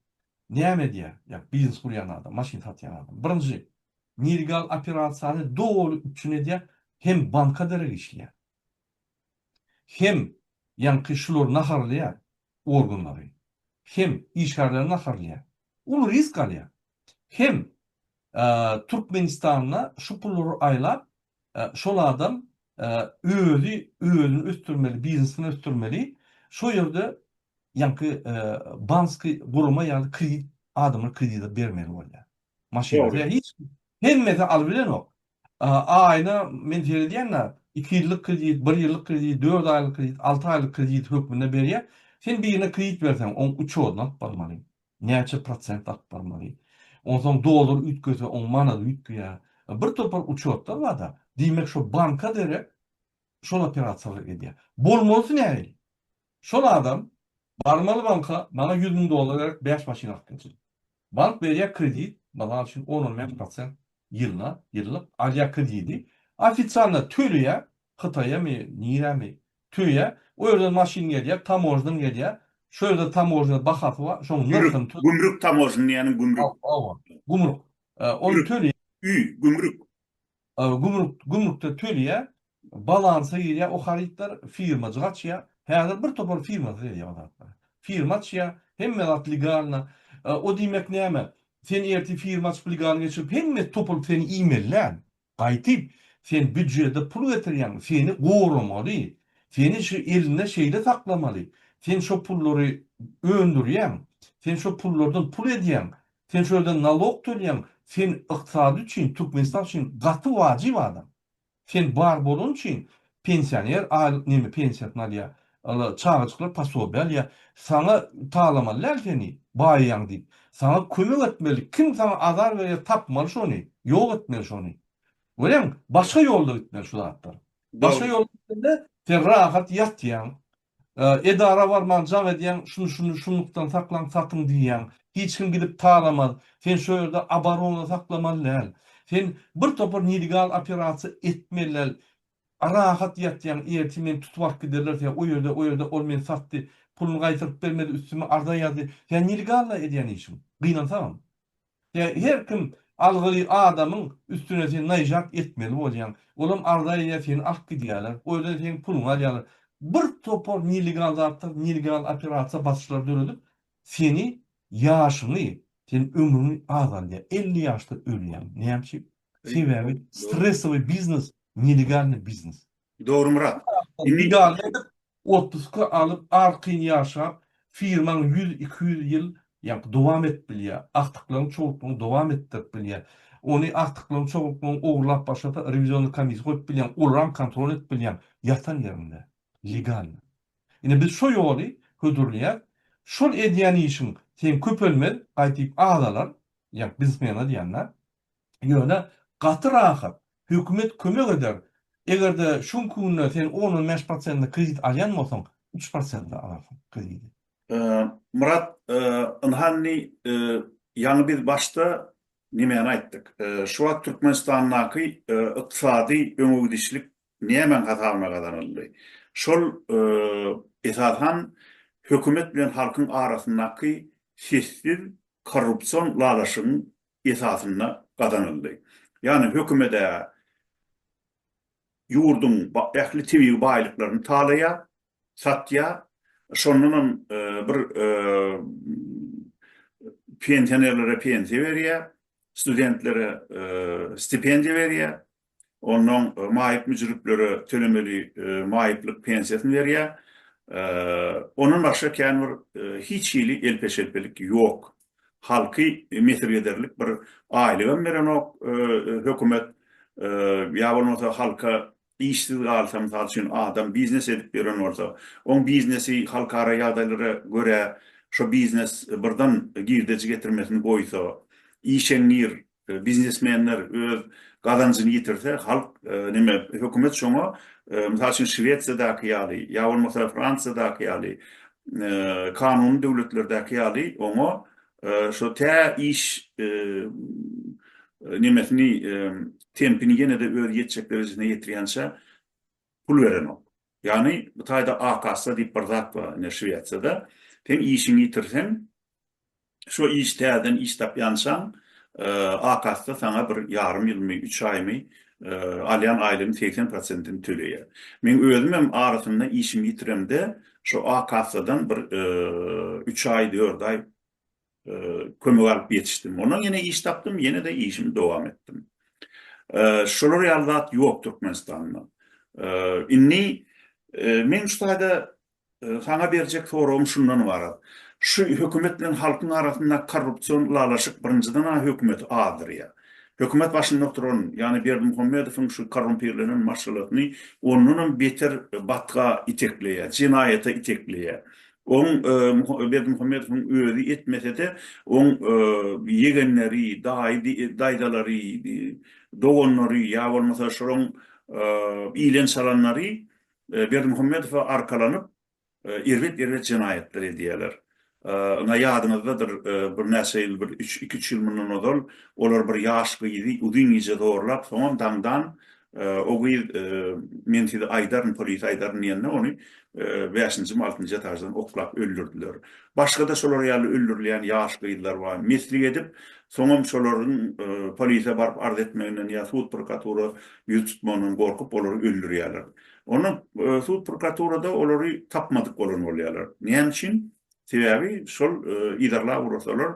näme edýär? Ýa biznes gurýan adam, maşyn satýan adam. Birinji, nelegal operasiýany doly üpjün edýär, hem banka derek işleýär. Hem ýaňky şulary naharlaýar, organlary. Hem işgärleri naharlaýar. Uly risk alýar. Hem Türkmenistanda şu pullary aýlap, şol adam özi özüni ösdürmeli biznesini ösdürmeli şo ýerde ýaňky banski gurama ýaly kredit adamlar kredit bermeli bolýar maşyny hiç hemmesi alyp bilenok aýyna men seredýän-ä iki ýyllyk kredit bir ýyllyk kredit dört aýlyk kredit alty aýlyk kredit hökmünde berýär sen birine kredit berseň oň uçodyny alyp barmaly Näçe prosent akbarmaly? Onsoň dollar üýtgese oň manat üýtgeýä. Bir topar uçotlar barda, diýmek şo banka derek şol operasiýalary edýä. Bolmalysy nähili? Şol adam barmaly banka maňa ýüz müň dollar gerek bäş maşyn alyp gelsin. Bank berýä kredit, mysal üçin on-on bäş prosent ýylda, ýyllyk alýa kredidi, ofisialna töleýä, hytaýamy, nirämi, Tüýe, o ýerden maşyn gelýär, tamožnyň gelýär. Şu ýerde tamožnyň bahasy bar, şoň nyrhyny tö. Gümrük tamožnyň diýýäniň gümrük. Hawa, gümrük. Ony töleýär. Ü, gümrük. Gümrük, gümrükde töleýär. Balansa girýär o harytlar, firmajyk açýar. Häzir bir topar firma selýär o zatlary. Firma açýar, hemme zat legalna. O diýmek näme? Sen ertir firma açyp legalna geçirip hemmesi topulup seni iýmeli däl. Gaýtyp, sen býujede pul getirýäňmi, seni goramaly, seni şu elinde şeýle saklamaly, sen şo pullary öndürýäň, sen şo pullardan pul edýäň, sen şo ýerden nalog tölýäň, sen ykdysady üçin, Türkmenistan üçin gaty wajyp adam. Sen bar bolany üçin pensioner aýlyk neme pensiýasyny alýar, Ala çagajyklar posobiýa alýar. Saňa talamaly däl seni, baýaýaň diýip. Saňa kömek etmeli. Kim saňa azar berýär, tapmaly şony, ýok etmeli şony. Görýäňmi? Başga ýolda gitmeli şu zatlar. Başga ýolda gitmeli, sen rahat ýatýaň. Edara barman jaň edýäň, şuny şuny şunlukdan saklaň, satyň diýýäň. Hiç kim gidip talamaz. Sen şu ýerde abarona saklamaly däl. Sen birtopar nelegal operasiýa etmeli däl. A rahat ýatýaň ertir meni tutup alyp giderler sen o ýerde o ýerde ol meni satdy puluny gaýtaryp bermedi üstüme arza ýazdy sen nilgalla edýän işiň gynansagam sen her kim algyly adamyň üstüne sen naýžat etmeli bolýaň olam arza edýär seni alyp gidýärler o ýerden seň puluňy alýarlar bir topar nilgal zatlar nilgal operasiýa basyşlar döredip seni ýaşyňy sen ömrüň azaldýar elli ýaşda ölýäň näme üçin Sebäbi stressowy biznes nelegalny biznes. Dogry Myrat. Legalny edip otpuska alyp arkaýyn ýaşap firmaň ýüz iki ýüz ýyl ýaňky dowam edip bilýä. Agtyklaň çowluklaň dowam etdirip bilýä. Ony agtyklaň çowluklaň ogurlap başlasa rewizionny komissiýa goýup bilýäň olaram kontrol edip bilýäň ýatan ýerinde. Legalny. Ine biz şo ýoly hödürlýäs. Şol edýän işiň seň köpelmez gaýdyp azalar. Ýa biznesmene diýýän-dä. Ýöne gaty rahat. Hökümet kömek eder. Eger-de şu günki günde sen on-on bäş prosentine kredit alýan bolsaň, üç prosente alarsyň krediti. Myrat, ynha indi ýaňy biz başda nämäni aýtdyk? Şu wagt Türkmenistandaky ykdysady öňegidişlik nämäň hasabyna gazanyldy? Şol, esasan, hökümet bilen halkyň arasyndaky sessiz korrupsion lalaşygyň esasynda gazanyldy. Ýagny hökümet-ä ýurduň ähli tebigy baýlyklaryny talaýar, satýar. Şondanam bir pensionerlere pensiýa berýär, studentlere stipendiýa berýär. ondan maýyp müjriplere tölemeli maýyplyk pensiýasyny berýär. Ondan başga kän bir hiç hili elpe-şelpelik ýok. Halky mesir ederlik bir aýlygam berenok hökümet. Ýa bolmasa halka işsiz galsa, mysal üçin, adam biznes edip ýören bolsa, oň biznesi halkara ýagdaýlara görä, şo biznes birden girdeji getirmesini goýsa, işeňňir Biznesmenler öz gazanjyny ýitirse, halk nime, hökümet şoňa, mysal üçin Şwesiýadaky ýaly, ýa bolmasa Fransiýadaky ýaly, kanuny döwletlerdäki ýaly oňa şo tä iş nimesini, tempini ýene-de özi ýetjek derejesine ýetirýänçä pul berenok. Ýagny bu taýda A-kassa diýip bir zat bar indi Şwesiýada. Sen işiňi ýitirseň, şo iş täzeden iş tapýançaň A-kassa saňa bir ýarym ýylmy, üç aýmy alýan aýlygyň segsen prosentini töleýär. Meň özüm hem arasynda işimi ýitiremde şo A-kassadan bir üç aý, dört aý, kömek alyp ýetişdim. Ondan ýene iş tapdym, ýene-de işimi dowam etdim. Şolar ýaly zat ýok Türkmenistanda. Indi meň şu taýda saňa berjek soragym şundan ybarat. Şu hökümet bilen halkyň arasynda korrupsion ylalaşyk birinjiden-ä hökümeti azdyrýar. Hökümet başynda oturan, ýagny Berdimuhamedowyň şu korrumpirlenen maşgalasyny ondanam beter batga itekleýär, jenaýata itekleýär. Oň Berdimuhamedowyň özi etmese-de, oň ýegenleri, daýy, daýzalary, doganlary ýa bolmasa şolaň ilen çalanlary Berdimuhamedowa arkalanyp, erbet-erbet jenaýatlar edýärler. Ynha ýadyňyzdadyr, birnäçe ýyl, bir iki-üç ýyl mundan ozal olar bir ýaş gyzy uzyn gije zorlap, soňam daňdan O gyz men size aýdaryn, polisiýa aýdaryn diýende ony bäşinjimi, altynjy etaždan oklap öldürdiler. Başga-da şolar ýaly öldürilýän ýaş gyzlar bar. Meslik edip, soňam şolaryň polisiýa baryp arz etmeginden ýa sud prokuratura ýüz tutmagyndan gorkup olary öldürýärler. Onda sud prokuraturada olary tapmadyk bolan bolýarlar. Näme üçin? Sebäbi şol yzarlap ugratsalar,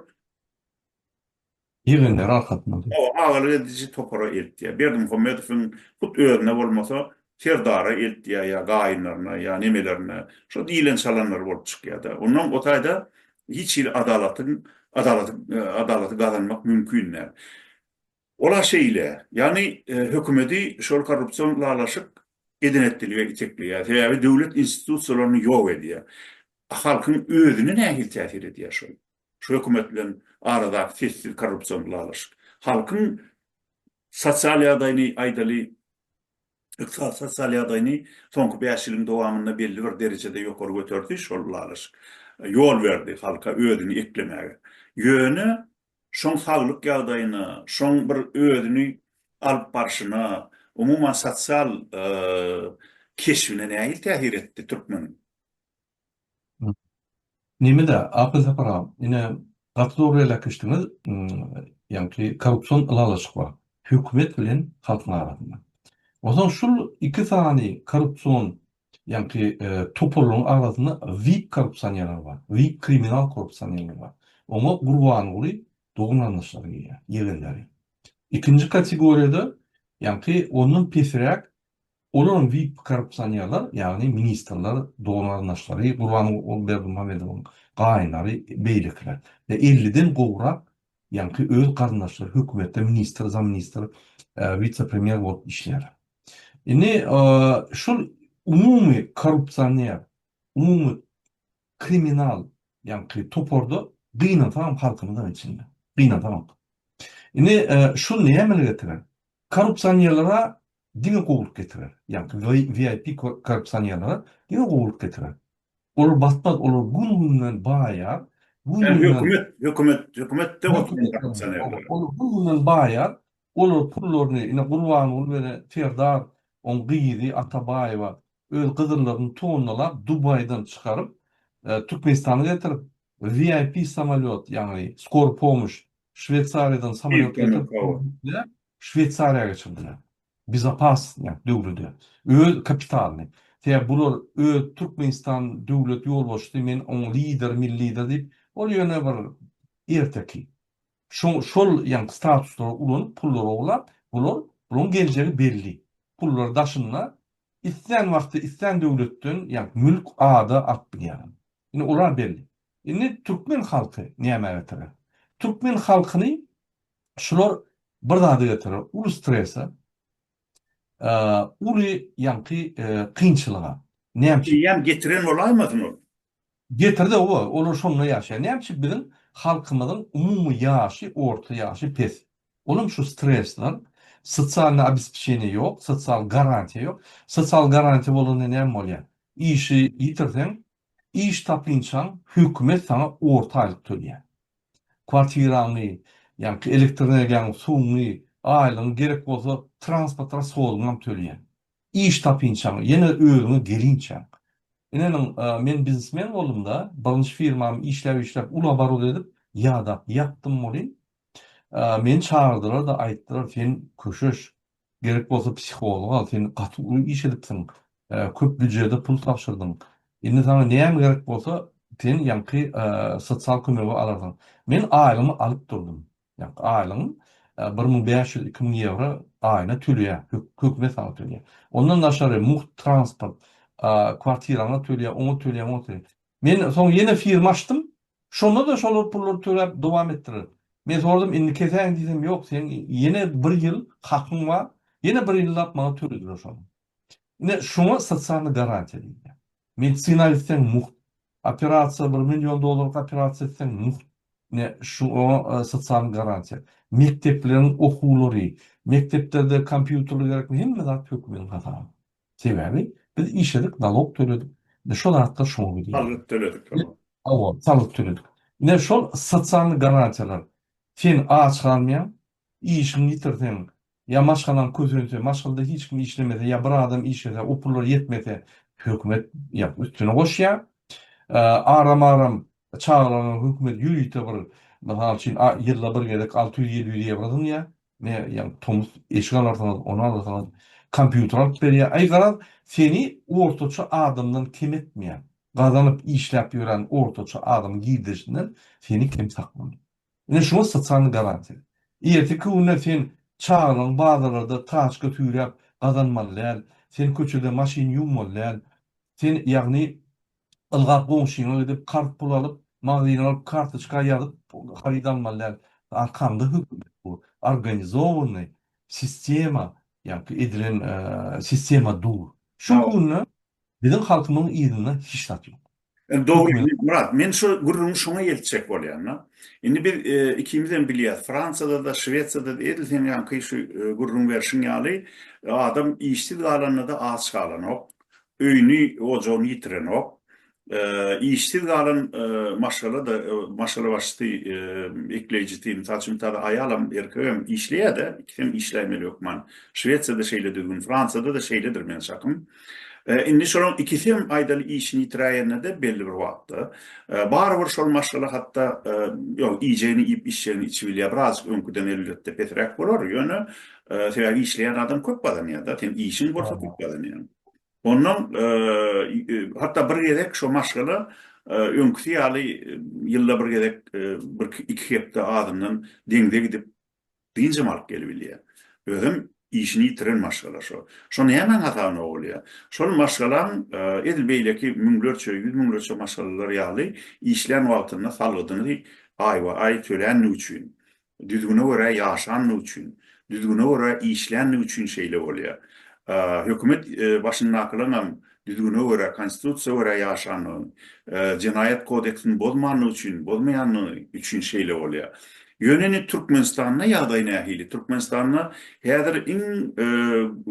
ýygyndar arkasynda dur. Hawa, agalyk ediji topara eltýär. Berdimuhamedowyň hut özüne bolmasa, Serdara eltýär ýa gaýynlaryna ýa nemelerine. Şo diýlen çalanlar bolup çykýar-da. Onnoň o taýda hiç hili adalatyň adalaty adalaty gazanmak mümkin däl. Ol-a şeýle. Ýagny hökümeti şol korrupsion lalaşyk edenetdilige itekleýär. Sebäbi döwlet institusiýalaryny ýok edýär. A halkyň özüne nähili täsir edýär şol? Şu hökümet bilen aradaky sessiz korrupsion ylalaşyk, halkyň sosial ýagdaýyny, aýdaly, ykdysady sosial ýagdaýyny soňky bäş ýylyň dowamynda belli bir derejede ýokary göterdi, şol ylalaşyk ýol berdi halka özüni eklemäge. Ýöne şoň saglyk ýagdaýyna, şoň bir özüni alyp barşyna, umuman sosial keşbine nähili täsir etdi türkmeniň? Nemede Akyl Saparow ine gaty dogry belekişdiňiz ýaňky korrupsion ylalaşyk bar hökümet bilen halkyň arasynda onsoň şul iki sany korrupsion ýaňky toparlaryň arasynda vip korrupsanýerler bar vip kriminal korrupsanýerler bar oňa gurbanguly dogan garyndaşlary girýär ýegenleri ikinji kategoriýada ýaňky ondan pesräk Olaryň wip-korrupsiýonerler, ýagny ministrler, dogan-garyndaşlary, Gurbanguly Berdimuhamedowyň gaýynlary, beýlekiler we elliden gowrak ýaňky öz garyndaşlary hökümetde ministr, zamministr, witse-premýer bolup işleýärler. Indi şol umumy korrupsioner, umumy kriminal ýaňky toparda gynansagam halkymyzam içinde, gynansagam. Indi şol näme getirer? Korrupsionerler-ä diňe gowulyk getirer. Ýagny VIP korrupsionerlere diňe gowulyk getirer. Olar batmaz, olar gün-günden baýar, gün-günden. Hökümet, hökümetde oturan korrupsionerler. Olar gün-günden baýar, olar pullaryny ine Gurbanguly bilen Serdar, oň gyzy Atabaýewa öz gyzyllygyny tonnalap Dubaýdan çykaryp, Türkmenistana getirip, VIP samolýot, ýagny skory pomoş, Şweýsariýadan samolýot getirip, Şweýsariýa geçirdiler. Bezopasnýak döwlede. Öz kapitalyny. Sebäbi bular öz Türkmenistan döwlet ýolbaşçysy men oň lideri milli lider diýip ol ýöne bir erteki. Şoň şol ýaňky statuslary ulanyp pullary oglap bular bulaň geljegi belli. Pullar daşynda islän wagty islän döwletden ýa mülk ada alyp bilýärler. Indi olar belli. Indi türkmen halky nämä getirer? Türkmen halkyny Şular bir zada getirer, uly strese, uly ýaňky kynçylyga. Näme üçin? Eýýäm getiren bolaýmasyn ol? Getirdi, oba, olar şonda ýaşaýar. Näme üçin biziň halkymyzyň umumy ýaşy, orta ýaşy pes? Ol hem şu stresden, sosialnyý obespçeniýe ýok, sosial garantiýa ýok. Sosial garantiýa bolanda näme bolýar? Işi ýitirseň, Iş tapynçaň, hökümet saňa orta aýlyk tölýär. Kwartiraňy, ýaňky elektroenergiýaňy, suwuňy, aýlygyňy, gerek bolsa, transportara sozgyňam tölýän. Iş tapynçaň, ýene özüňe gelinçäň. Ineniň, men biznesmen boldum-da, birinji firmamy işläp-işläp, uly oborot edip, ýadap, ýapdym welin, meni çagyrdylar-da, aýtdylar, sen köşeş, Gerek bolsa psihology al, sen gaty uly iş edipsiň, köp býujede pul tabşyrdyň. Indi saňa näme gerek bolsa, sen ýaňky sosial kömegi alarsyň. Men aýlygymy alyp durdum. Ýaňky aýlygym bir müň bäş ýüz, iki müň ýewro aýyna töleýär, hökümet saňa töleýär. Ondan daşary mugt transport, kwartiraňa töleýär, oňa töleýär, muňa töleýär. Men soň ýene firma açdym, Şonda-da şolar pullary töläp dowam etdiler. Men soradym, indi kesäýiň diýsem, ýok, seň ýene bir ýyl hakyň bar, ýene bir ýyllap maňa tölediler şony. Ine, şuňa sosialnyý garantiýa diýilýär. Medisina gitseň mugt. Operasiýa, bir million dollarlyk operasiýa etseň mugt. Ine, şu oňa sosialnyý garantiýa. Mekdepleriň okuwlary, mekdeplerde kompýuterler gerekmi, hemme zat hökümetiň hasabyna. Sebäbi biz işledik nalog töledik ine şo zatlar şoňa gidýär. Salgyt töledik hawa. Hawa salgyt töledik. Ine şol sosialny garantiýalar sen aç galmaýaň, işiňi ýitirseň ýa maşgalaň kösense, maşgalda hiç kim işlemese ýa bir adam işlese o pullar ýetmese hökümet ýa üstüne goşýar. Aram aram çagalaryňa hökümet ýörite bir mysal üçin ýylda bir gezek alty ýüz ýedi ýüz ýewro zyňýar. Ne ýaňy tomus eşik alarsyňyz, ony alarsyňyz, kompýuter alyp berýär. Aý garaz, seni ortaça adamdan kem etmeýän, gazanyp, işläp ýören ortaça adamyň girdeşinden seni kem saklanýar. Ine şuňa sosialnyý garantiýa. Ertirki günde sen çagalaň bazarlarda taçka süýräp gazanmaly däl, sen köçede maşyn ýuwmaly däl, sen ýagny ylgap goňşyňa gidip karz pul alyp, magzyna baryp kartoçka ýazyp haryt almaly däl. Arkaňda hökümet bu. Organizowanyý sistema ýaňky edilen sistema dur. Şu günde biziň halkymyň yzynda hiç zat ýok. Dogry Myrat, men şu gürrüňi şoňa eltjek bolýan-da. Indi biz ikimizem bilýäs, Fransiýada-da, Şwesiýada-da edil seň ýaňky şu gürrüň berşiň ýaly, adam işsiz galanda-da aç galanok. öýüni, ojagyny ýitirenok. Işsiz galan maşgala-da, maşgalabaşysy, ekleýjisi, mysal üçin, tada aýalam, erkegem işleýär-de, ikisem işläýmeli hökman. Şwesiýada şeýle düzgün, Fransiýada-da şeýledir meniň çakym. Indi şolaryň ikisem, aýdaly, işini ýitiräýende-de belli bir wagtda, barybir şol maşgala hatda, ýok, iýjegini iýip, içjegini içip bilýär. Birazajyk öňküden elbetde pesräk bolar, ýöne, sebäbi işleýän adam köp gazanýar-da, seň işiň bolsa köp gazanýaň. Ondan hatda bir gezek şo maşgala öňküsi ýaly ýylda bir gezek bir iki hepde azyndan deňze gidip dynjam alyp gelip bilýär. Özem işini ýitiren maşgala şo. Şo nämäň hasabyna bolýar? Şol maşgalaň edil beýleki müňlerçe, ýüz müňlerçe maşgalalar ýaly işlän wagtynda salgydyny aýba-aý töländigi üçin Düzgüne görä ýaşandygy üçin, düzgüne görä işländigi üçin şeýle bolýar. Hökümet başyndakylaryň hem düzgüne görä, Konstitusiýa görä ýaşandygyny, Jenaýat kodeksini bozmandygy üçin, bozmaýandygy üçin şeýle bolýar. Ýöne indi Türkmenistanda ýagdaý nähili? Türkmenistanda häzir iň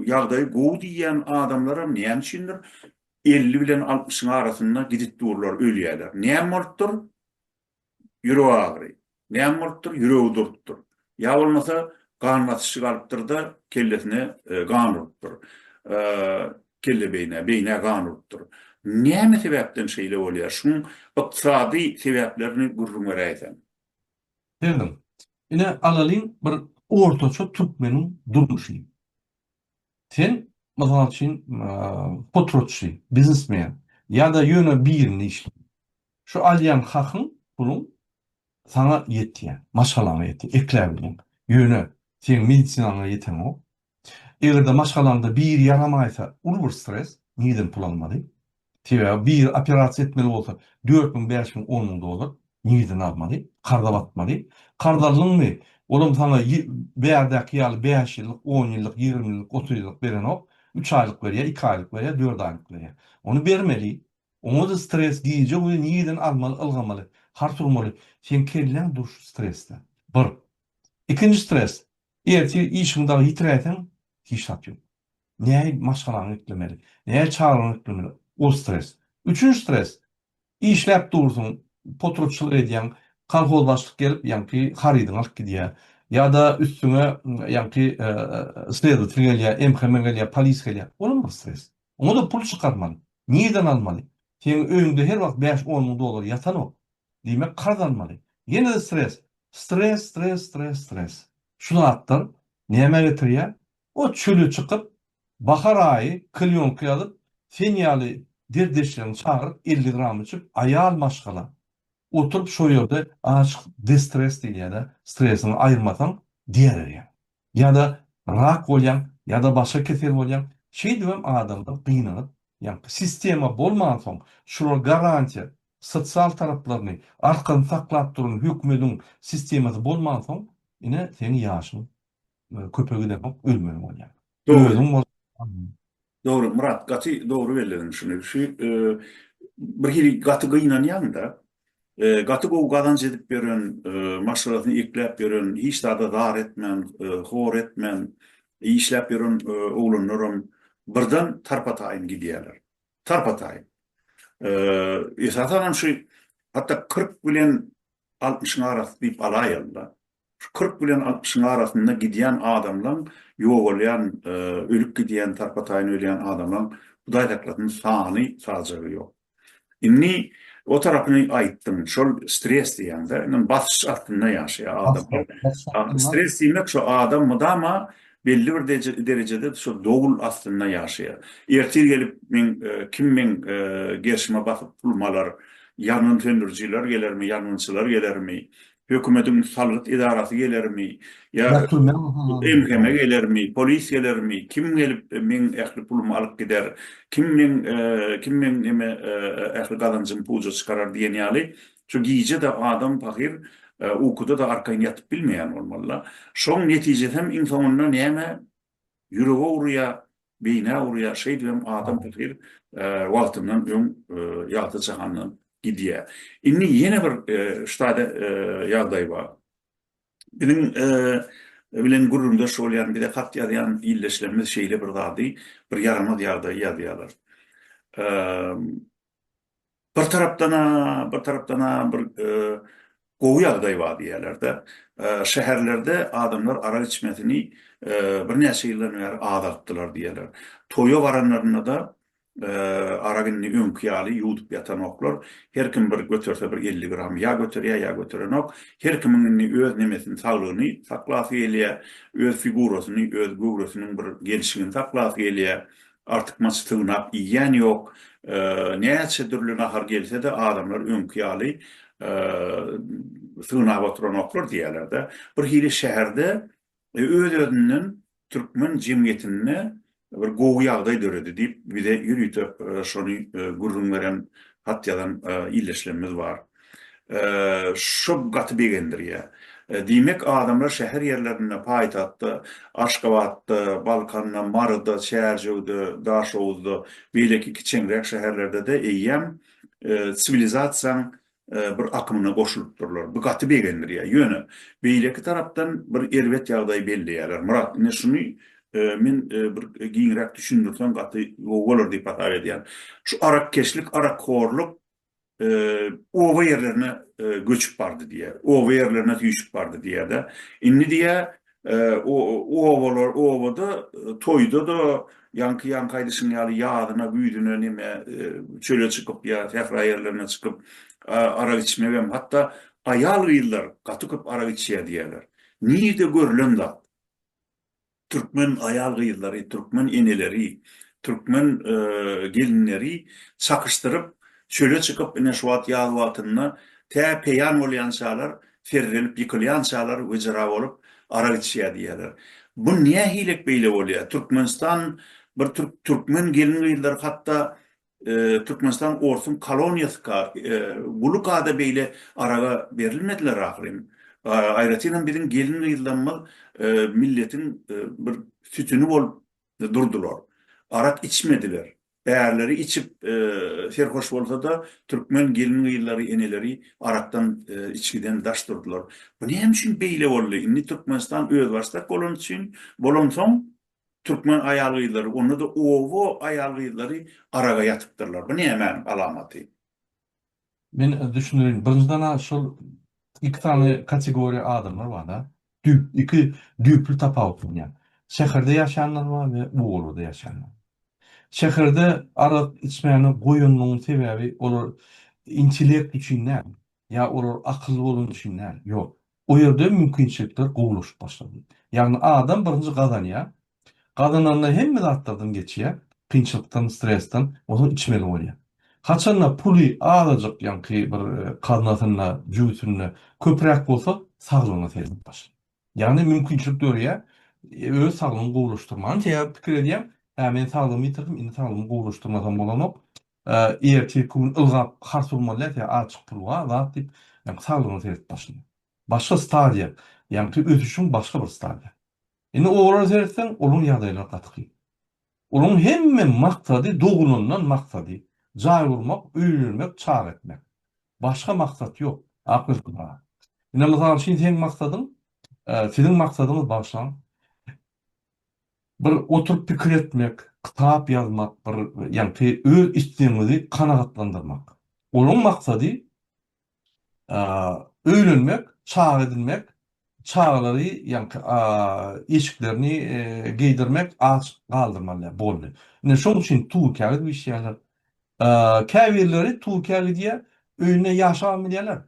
ýagdaýy gowy diýýän adamlar hem näme üçindir elli bilen altmyşyň arasynda gidip durlar, ölýärler. Näme bolupdyr? ýürek agyry. Näme bolupdyr? Ýüregi durupdyr. Ýa bolmasa gan basyşy galypdyr-da, kellesine gan urupdyr. Kelle beýnä, beýnä gan urupdyr. Näme sebäpden şeýle bolýar? Şuň ykdysady sebäplerini gürrüň beräýseň. Berdim. Ine, alalyň bir ortaça türkmeniň durmuşyny. Sen, mysal üçin, potratçy, biznesmen ýa-da ýöne birinde işleýän. Şu alýan hakyň, puluň saňa ýetýär, maşgalaňa ýetýär, ekläp bilýäň. Ýöne seň medisinaňa ýetenok. Eger-de maşgalaňda biri ýaramaýsa, uly bir stres, nireden pul almaly? Sebäbi biri operasiýa etmeli bolsa, dört müň, bäş müň, on müň dollar nireden almaly? Karza batmaly. Karz aldyňmy, olam saňa bärdäki ýaly bäş ýyllyk, on ýyllyk, ýigrimi ýyllyk, otuz ýyllyk berenok. Üç aýlyk berýär, iki aýlyk berýär, dört aýlyk berýär. Ony bermeli. Oňa-da stres, gije-gündiz nireden almaly, ylgamaly, har turmaly. Seň kelläň dur şu stresde. Bir. Ikinji stres, ertir işiňi dagy ýitiräýseň, hiç zat ýok. Näin maşgalaňy eklemeli? Näin çagalaňy eklemeli? Ol stres. Üçünji stres, işläp dursuň, potrubçylyk edýäň, kolhoz başlyk gelip, ýaňky harydyňy alyp gidýär. Ýa-da üstüňe ýaňky sledowtel gelýär, MHM gelýär, polis gelýär. Olam bir stres. Oňa-da pul çykarmaly. Nireden almaly? Seniň öýüňde her wagt bäş-on müň dollar ýatanok. Diýmek, karz almaly. Ýene-de stres. Stres, stres, stres, stres. Şu zatlar nämä getirýär? O çöle çykyp, bahar aýy klýonka ýazyp, sen ýaly derdeşlerini çagyryp elli gram içip, aýal maşgala, oturyp şo ýerde aşyk destres diýilýä-dä, stresiňi aýyrmasaň diar erýäň. Ýa-da rak bolýaň, ýa-da başga kesel bolýaň, şeýdibem adamlar gynanyp ýaňky sistema bolmansoň şular garantiýa, sosial taraplaryny, arkasyny saklap duran hökümediň sistemasy bolmansoň ine seň ýaşyň Köpe gideňok ölmeli bolýar. Özüň bol. Dogry Myrat gaty dogry bellediň şuny. Şu bir hili gaty gynanýan-da. Gaty gowy gazanç edip ýören, maşgalasyny ekläp ýören, hiç zada zar etmän, hor etmän işläp ýören oglanlaram birden tarpa-taýyn gidýärler. Tarpa-taýyn. Esasanam şu hatda kyrk bilen altmyşyň arasy diýip alaýaly-da. Şu kyrk bilen altmyşyň arasynda gidýän adamlaň ýogalýan, ölüp gidýän, tarpa-taýyn ölýän adamlaň Hudaý saklasyn sany sajagy ýok. Indi o tarapyny aýtdyň, şol stres diýýäňdä, indi basyş astynda ýaşaýar adam. Stres diýmek şu adam mydama belli bir derejede şu dowul astynda ýaşaýar. Ertir gelip meň kim meň gerşime basyp pulumy alar, ýangyn söndürijiler gelermi, ýangynçylar gelermi, Hökümediň salgyt edarasy gelermi, ýa MHM gelermi, polis gelermi, kim gelip meň ähli pulumy alyp gider, kim meň, kim meň neme ähli gazanjymy puja çykarar diýen ýaly, şu gije-de adam pahyr ukuda-da arkaýyn ýatyp bilmeýän bolmaly-la. Şoň netijesem iň soňunda näme Ýürege urýa, beýnä urýa, şeýdibem adam pahyr wagtyndan öň ýagty jahandan gidýä. Indi ýene bir ştada ýagdaý bar. Biziň bilen gürrüňdeş bolýan, bize hat ýazýan ildeşlerimiz şeýle bir zady, bir ýaramaz ýagdaýy ýazýarlar. bir tarapdan-a, bir tarapdan-a bir gowy ýagdaý bar diýýärler-de. Şäherlerde adamlar arak içmesini birnäçe ýyldan bäri azaltdylar diýýärler. Toýa baranlarynda-da arak indi öňki ýaly ýuwdup ýatanoklar. Her kim bir göterse bir elli gram ýa göterýär, ýa göterenok. Her kimiň indi öz nemesini, saglygyny saklasy gelýär, öz figurasyny, öz göwresiniň bir gelşigini saklasy gelýär. Artykmaç sygnap iýýän ýok. Näçe dürli nahar gelse-de, adamlar öňki ýaly sygnap oturanoklar diýýärler-de. Birhili şäherde öz-özünden türkmen jemgyýetinde bir gowy ýagdaý döredi diýip, bize ýörite şony gürrüň beren, hat ýazan ildeşlerimiz bar. Şu gaty begendirýär. Diýmek, adamlar şäher ýerlerinde, paýtagtda, Aşgabatda, Balkanda, Maryda, Çärjewde, Daşoguzda, beýleki kiçeňräk şäherlerde-de eýýäm siwilizasiýaň bir akymyna goşulypdyrlar. Bu gaty begendirýär. Ýöne, beýleki tarapdan bir erbet ýagdaýy belleýärler. Myrat, ine şuny men bir giňräk düşündirseň gaty gowy bolar diýip hasap edýän. Şu arakkeşlik, arakhorluk oba ýerlerine göçüp bardy diýýär. Oba ýerlerine süýşüp bardy diýýär-de. Indi diýýär, obalar, obada, toýda-da, ýaňky ýaňky aýdyşyň ýaly ýazyna, güýzüne neme çöle çykyp ýa sähra ýerlerine çykyp arak içmegem, hatda aýal-gyzlar gaty köp arak içýär diýýärler. Nirde görlen zat? Türkmen aýal-gyzlary, türkmen eneleri, türkmen gelinleri çakyşdyryp, çöle çykyp, ine şu wagt ýaz wagtynda tä peýan bolýançalar, serrelip ýykylýançalar wejera bolup arak içýär diýýärler. Bu nähilek beýle bolýar? Türkmenistan bir türkmen gelin-gyzlary hatda Türkmenistan orsuň koloniýasy ka, guly kada beýle araga berilmediler ahyryn. Aýratynam biziň gelin-gyzlarymyz milletiň bir sütüni bolup durdular. Arak içmediler. Ärleri içip serhoş bolsa-da, türkmen gelin-gyzlary, eneleri arakdan, içgiden daş durdular. Bu näme üçin beýle boldy? Indi Türkmenistan özbaşdak bolany üçin, bolansoň, Türkmen aýal-gyzlary, onda-da oba aýal-gyzlary araga ýatypdyrlar. Bu nämäniň alamaty? Men düşündireýin. Birinjiden-ä şol iki sany kategoriýa adamlar bar-da. Düýp, iki düýpli tapawutlanýar. Şäherde ýaşaýanlar bar we obalada ýaşaýanlar. Şäherde arak içmäni goýanlaryň sebäbi olar intellekt üçin däl, ýa olar akylly bolany üçin däl, ýok. Bu ýerde mümkinçilikler gowulaşyp başlady. Ýagny adam birinji gazanýar. Gazananda hemme zatlardan geçýär, kynçylykdan, stresden, onsoň içmeli bolýar. Haçanda puly azajyk ýaňky bir kaznasynda, jübüsinde köpräk bolsa, saglygyna seredip başlaýar. Ýagny mümkinçilik döreýär, öz saglygyňy gowulaşdyrmaga. Ynha pikir edýär, Hä, men saglygymy ýitirdim, indi saglygymy gowulaşdyrmasam bolanok. Ertir-irkügün ylgap hars urmaly däl, sen azjyk pul bar zat diýip, ýaňky saglygyna seret başyny. Başga stadiýa, ýaňky ösüşiň başga bir stadiýa. Indi olara seretseň, olaryň ýagdaýlary gaty kyn. Olaryň hemme maksady, dogulandan maksady, jaý gurmak, öýlenmek, çaga etmek. Başga maksat ýok. Akgözüm aga. Ine, mysal üçin, seň maksadyň, siziň maksadyňyz, bagyşlaň, Bir oturyp pikir etmek, kitap ýazmak, bir ýagty öz islegiňizi kanagatlandyrmak. Olaň maksady öýlenmek, çaga edinmek, çagalary ýagty eşiklerini geýdirmek, aç galdyrmaly boldy. Ine şoň üçin Turkiýa gidip işleýärler. Käbirleri Turkiýa gidýär, öýünde ýaşabam bilýärler.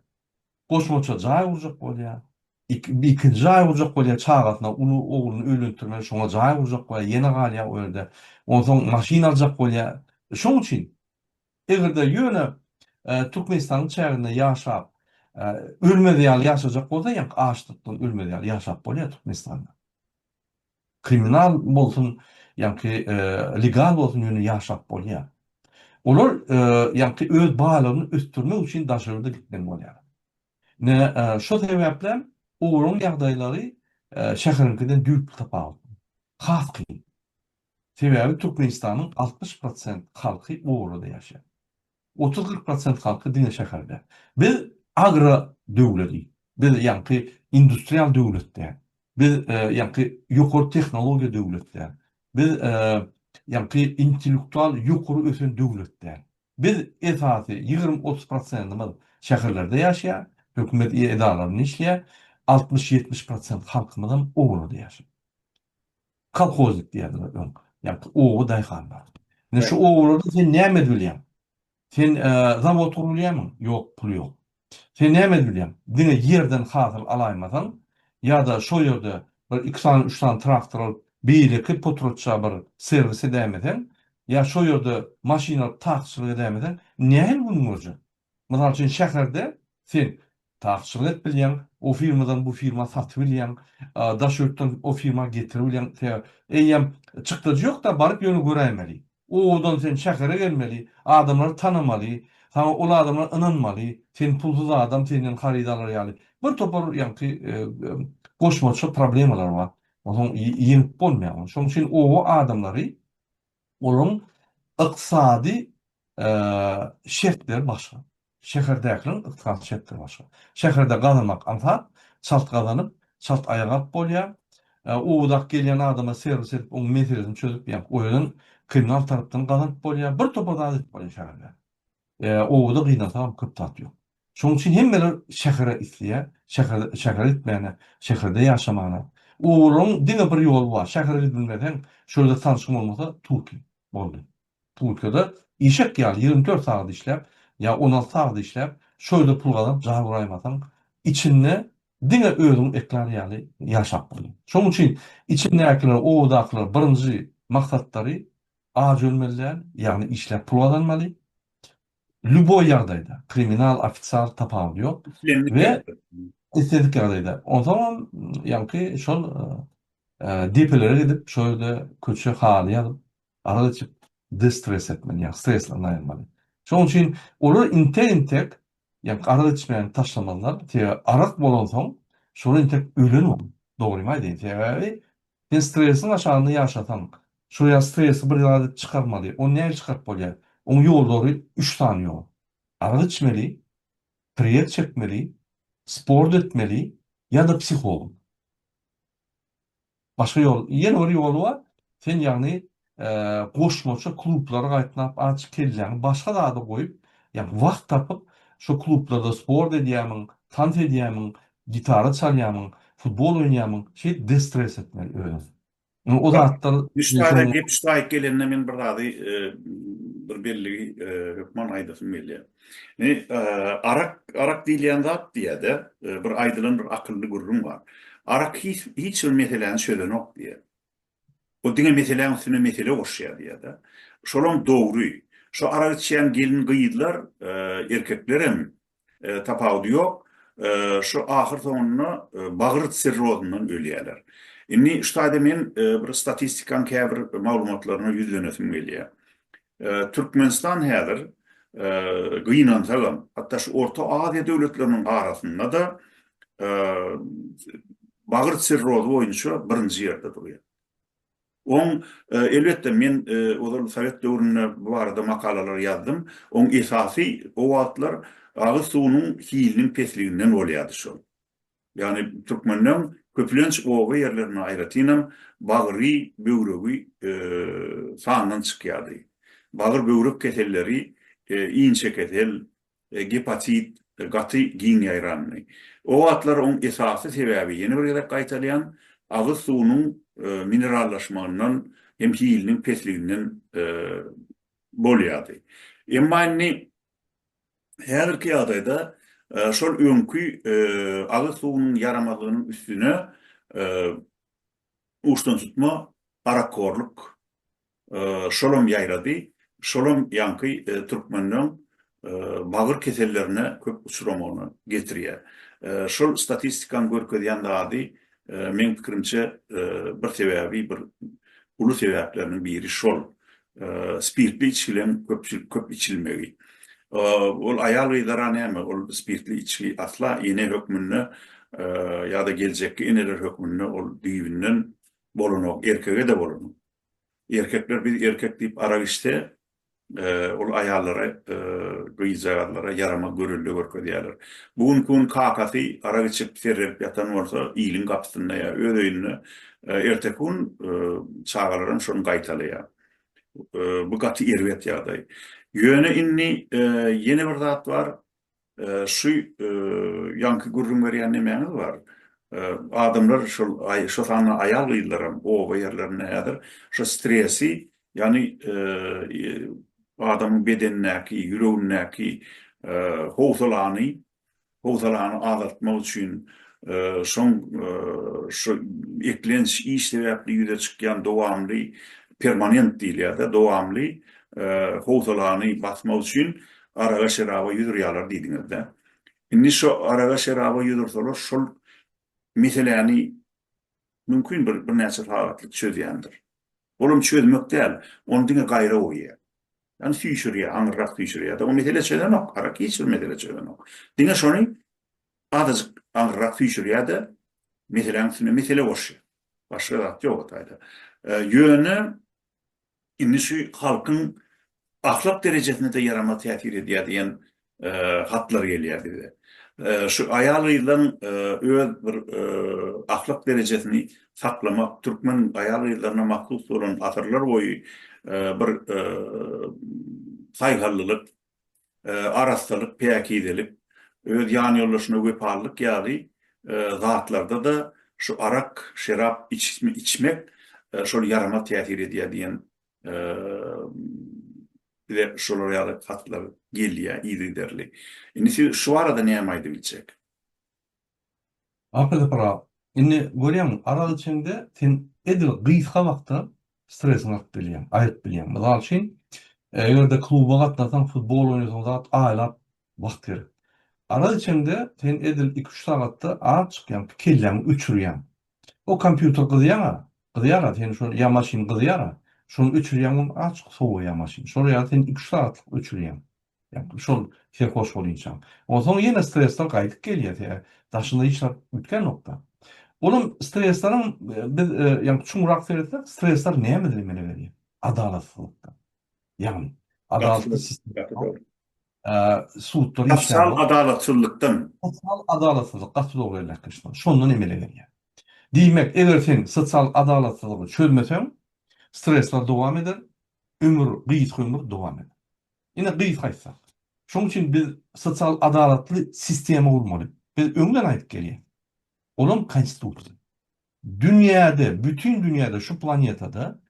Goşmaça jaý gurjak bolýar. Ikinji jaý gurjak bolýar, çagasyna, uly ogluny öýlendirmeli, şoňa jaý gurjak bolýar, ýene galýar o ýerde. Onsoň maşyn aljak bolýar. Şoň üçin, eger-de ýöne Türkmenistanyň çäginde ýaşap, ölmez ýaly ýaşajak bolsa, ýaňky açlykdan ölmez ýaly ýaşap bolýar Türkmenistanda. Kriminal bolsun ýa-ki legal bolsun ýöne ýaşap bolýar. Olar ýa-ki öz baýlygyny ösdürmek üçin daşa ýurda gitmeli bolýar. Ine şo sebäplem olaryň ýagdaýlary şäheriňkiden düýpli tapawut. Has kyn. Sebäbi Türkmenistanyň altmyş prosent halky oarada ýaşaýar. Otuz-kyrk prosent halky diňe şäherde. Biz agro döwledi. Biz ýaňky industrial döwlet däl. Biz ýaňky ýokary tehnologiýa döwlet däl. Biz ýaňky intellektual ýokary ösen döwlet däl. Biz esasy ýigrimi-otuz prosentimiz şäherlerde ýaşaýar, hökümet edaralarynda işleýär, altmyş-ýetmiş prosent halkymyzam obalada ýaşaýar. Kolhoznik diýerdiler öň. Ýa-da oba daýhanlar. Ine şu obalarda sen näme edip bilýäň? Sen zawod gurup bilýärmiň? Ýok, pul ýok. Sen näme edip bilýäň? Diňe ýerden hasyl alaýmasaň, ýa-da şo ýerde bir iki sany, üç sany traktor alyp, beýleki potratja bir serwis edäýmeseň, ýa şo ýerde maşyn alyp takçylyk edäýmeseň, nähili günüň görjek? Mysal üçin, şäherde sen taksçylyk edip bilýäň, o firmadan bu firma satyp bilýäň, daş ýurtdan o firma getirip bilýäň, sebäbi eýýäm çykdajy ýok-da, baryp ýöne göräýmeli. Owadan sen şähere gelmeli, adamlary tanamaly, saňa ol adamlar ynanmaly, sen pulsuz adam, senden haryt alar ýaly bir topar ýaňky goşmaça problemalar bar. Onsoň ýeňip bolmaýar ony. Şonuň üçin oba adamlary Olaryň ykdysady şertleri başga. Şäherdäkileriň ykdysady şertleri başga. Şäherde gazanmak aňsat, çalt gazanyp, çalt aýak alyp bolýar. Owadak gelýän adama serwis edip, onuň meselesini çözüp, ýa-ni oýadan kriminal tarapdan gazanyp bolýar. Bir topar zat edip bolýar şäherde. Obada gynansaňam köp zat ýok. Şonuň üçin hemmeler şähere isleýär, şähere, şähere gitmäne, şäherde ýaşamana. Olaryň diňe bir ýoly bar, şähere gidip bilmeseň, şol ýerde tanşyň bolmasa, tur ki, boldy. Turkiyada işek ýaly ýigrimi dört sagat işläp, ýa on alty sagat işläp, şo ýerde pul gazanyp jar guraýmasaň, içinde diňe özüň eklar ýaly ýaşap bolýar. Şonuň üçin içindäkiler, obadakylar birinji maksatlary aç ölmeli däl, ýagny işläp pul gazanmaly. Lýuboý ýagdaýda, kriminal, ofisial, tapawudy ýok. We islendik ýagdaýda. Onsoňam, ýaňky şol depelere gidip, şol ýerde köçe haly ýazyp, arak içip, destres etmeli, ýagny stresden aýrylmaly. Şonuň üçin olar intek-intek, ýaňky arak içmegini taşlamazlar. Sebäbi arak bolansoň, şol intek ölen bolup, dogrymy aýdaýyn. Sebäbi Sen stresiň aşagynda ýaşasaň, şo ýa stresi bir zat edip çykarmaly, ony nähili çykaryp bolýar? Oň ýollary üç sany ýol. Arak içmeli, priýet çekmeli, sport etmeli ýa-da psiholog. Başga ýol, ýene bir ýoly bar, sen ýagny goşmaça klublar gaýtnap aç kelläňi başga zada goýup ýagny wagt tapyp şo klublarda sport edýämiň tans edýämiň gitara çalýamyň futbol oýnaýamyň şeýdip destres etmeli özüňi indi o zatlar üç sany gep üstü aýyp gelende men bir zady bir belligi hökman aýdasym gelýär indi arak arak diýilýän zat diýäde bir aýdylan bir akylly gürrüň bar arak hiç hiç bir meseläni çözenok diýýär Ol diňe meseläň üstüne mesele goşýar diýýär-de. Şolam dogry. Şu arak içýän gelin-gyzlar, erkekler hem tapawudy ýok. Şu ahyr soňunda bagyr sirrozyndan ölýärler. Indi şu taýda men bir statistikaň käbir maglumatlaryna ýüzlenesim gelýär. Türkmenistan häzir, gynansagam, hatda şu Orta Aziýa döwletleriniň arasynda-da bagyr sirrozy boýunça birinji ýerde durýar. Oň, elbetde, men ozal sowet döwründe bu barada makalalar ýazdym. Oň esasy o wagtlar agyz suwunyň hiliniň pesliginden bolýardy şol. Ýagny türkmenleň köplenç oba ýerlerinde aýratynam bagry, böwregi sandan çykýardy. Bagyr-böwrek keselleri, inçekesel, gepatit gaty giň ýaýrandy. O wagtlar oň esasy sebäbi, ýene bir gezek gaýtalýan, agyz suwunyň minerallaşmagyndan hem hiliniň pesliginden bolýardy. Emma indi häzirki ýagdaýda şol öňki agyz suwunyň ýaramazlygynyň üstüne uçdantutma, arakhorlyk şolam ýaýrady, şolam ýaňky türkmenleň bagyr kesellerine köp uçramagyna getirýär. Şol statistikanyň görkezýän zady Meň pikirimçe bir sebäbi bir uly sebäpleriniň biri şol spirtli içgilem köpçülik köp içilmegi. Ol aýal gyzlara näme ol spirtli içgi asla ene hökmünde ýa-da geljekki eneler hökmünde ol düýbünden bolanok erkege-de bolanok. Erkekler biz erkek diýip arak içse, ol aýallara, gyzjagazlara ýaramaz görelde görkezýärler. Bu günki gün kakasy arak içip, serrelip ýatan bolsa, iliň gapysynda ýa öz öýünde, erteki gün çagalar hem şony gaýtalaýar. Bu gaty erbet ýagdaý. Ýöne indi ýene bir zat bar, Şu ýaňky gürrüň berýän nemäňiz bar? Adamlar şol şo sanda aýal gyzlaram oba ýerlerinde häzir şo stresi ýagny adamyň bedenindäki ýüregindäki howsalany howsalany azaltmak üçin şoň şu eklenç iş sebäpli ýüze çykýan dowamly permanent diýilýärde dowamly howsalany basmak üçin araga-şeraba ýüz urýarlar diýdiňiz-dä. Indi şo araga-şeraba ýüz ursalar, şol meseläni mümkin bir birnäçe sagatlyk çözýändir. Olam çözmek däl, ony diňe gaýra urýar. Ýani süýşürýär, aňyrrak süýşürýär-de, o mesele çözenok, arak hiç bir mesele çözenok. Diňe şony azajyk aňyrrak süýşürýär-de, meseläň üstüne mesele goşýar. Başga zat ýok o taýda. Ýöne Indi şu halkyň ahlak derejesine-de ýaramaz täsir edýär diýen hatlar gelýärdi bize. Şu aýal-gyzlaryň öz bir ahlak derejesini saklamak, türkmen aýal-gyzlaryna mahsus bolan asyrlarboýy bir saýgallylyk, arassalyk, päkizelik, öz ýanýoldaşyna wepalylyk ýaly zatlarda-da şu arak, şerap içmek şol ýaramaz täsir edýär diýen bize şolar ýaly hatlar gelýär yzygiderli. Indi siz şu barada näme aýdyp biljek? Akyl ýaprak, indi görýäňmi, arak içeňde sen edil gysga wagtda stresiňi atyp bilýäň, aýryp bilýäň. Mysal üçin, eger-de kluba gatnasaň, futbol oýnasaň zat aýlap wagt gerek. Arak içeňde sen edil iki-üç sagatda az çykýaň, kelläňi öçürýäň. O kompýuter gyzýan-a, gyzýar-a, seni şol ýa maşyn gyzýar-a, şony öçürýäň, ony az-çok sowaýar maşyn. Şol ýaly sen iki-üç sagatlyk öçürýäň. Ýa-da şol serhoş bolinçaň. Onsoň ýene stresler gaýdyp gelýär, sebäbi daşynda hiç zat üýtgänokda. Olam stresleriň biz ýa-da çuňrak seretsek, stresler näme bize emele berýär? Adalatsyzlykdan. Ýagny, adalatsyz sistemden. Sudlar işlänok. Sosial adalatsyzlykdan. Sosial adalatsyzlyk, gaty dogry belläpmişsiňiz. Şondan emele gelýär. Diýmek, eger sen sosial adalatsyzlygy çözmeseň, stresler dowam eder, ömür, gysga ömür dowam eder. Ine, gysga aýtsak, şonuň üçin biz sosial adalatly sistema gurmaly. Biz öňden aýdyp gelýäs. Olam Konstitusiýa. Dünýäde, bütin dünýäde, şu planetada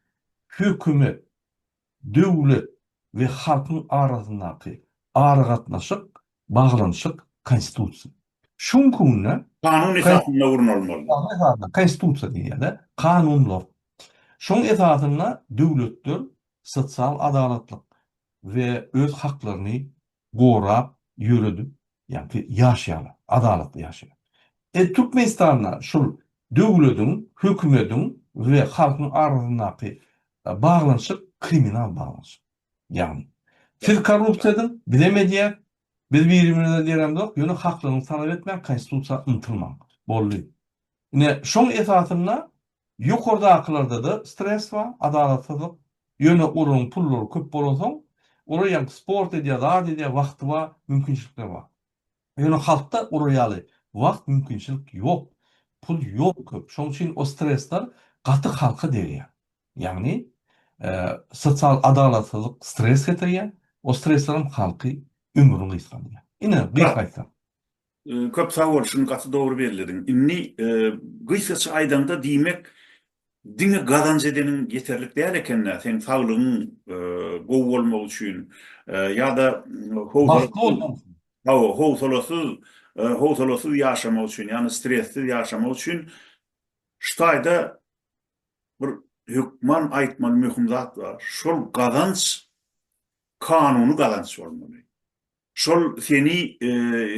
hökümet, döwlet we halkyň arasyndaky aragatnaşyk, baglanyşyk Konstitusiýa. Şu günki günde. Kanun esasynda gurnalmaly. Kanun esasynda, Konstitusiýa diýýär-de, kanunlar. Şoň esasynda döwletler, sosial adalatlyk we öz haklaryny gorap ýöredip ýaňky ýaşaýarlar, adalatly ýaşaýar. E Türkmenistanda şul döwlediň, hökümediň we halkyň arasyndaky baglanyşyk kriminal baglanyşyk. Ýagny siz korrupsiýa ediň, bizem edýäs, biz birimize deremzok, ýöne haklygyňyzy talap etmäň, konstitusiýa ymtylmaň. Boldy. Ine şoň esasynda Ýokardakylarda-da stres bar, adalatsyzlyk. Ýöne olaryň pullary köp bolansoň, olar ýaňky sport edýär, zat edýär, wagty bar, mümkinçilikleri bar. Ýöne halkda olar ýaly wagt, mümkinçilik ýok. Pul ýok köp. Şonuň üçin o stresler gaty halka degýär. Ýagny, sosial adalatsyzlyk stres getirýär. O streslerem halky ömrüni gysgandyrýar. Ine, gysga aýtsak. Köp sag bol şuny gaty dogry bellediň. Indi gysgaça aýdaňda diýmek diňe gazanç edeniň ýeterlik däl ekendä seň saglygyň gowy bolmagy üçin ýa-da bagtly bolmak üçin. Hawa howsalasyz howsalasyz ýaşamak üçin ýagny stressiz ýaşamak üçin şu taýda bir hökman aýtmaly möhüm zat bar şol gazanç kanuny gazanç bolmaly. Şol seni,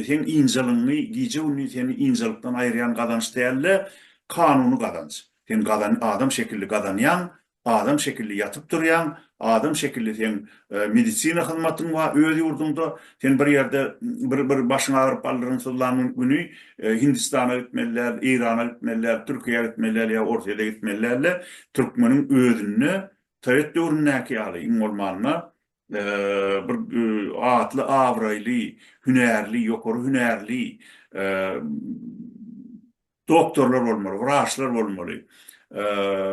seň ynjalygyňy, gije-gündiz seni ynjalykdan aýyrýan gazanç däl-de, kanuny gazanç. Sen gazan, adam şekilli gazanýaň, adam şekilli ýatyp durýaň, adam şekilli seň medisina hyzmatyň bar öz ýurduňda. Sen bir ýerde bir bir başyň agyryp baldyryň syzlan güni Hindistana gitmeli däl, Eýrana gitmeli däl, Türkiýä gitmeli däl ýa Orsýete gitmeli däl-de, türkmeniň özünde sowet döwründäki ýaly iň bolmanda bir atly, abraýly, hünärli, ýokary hünärli doktorlar bolmaly, wraçlar bolmaly,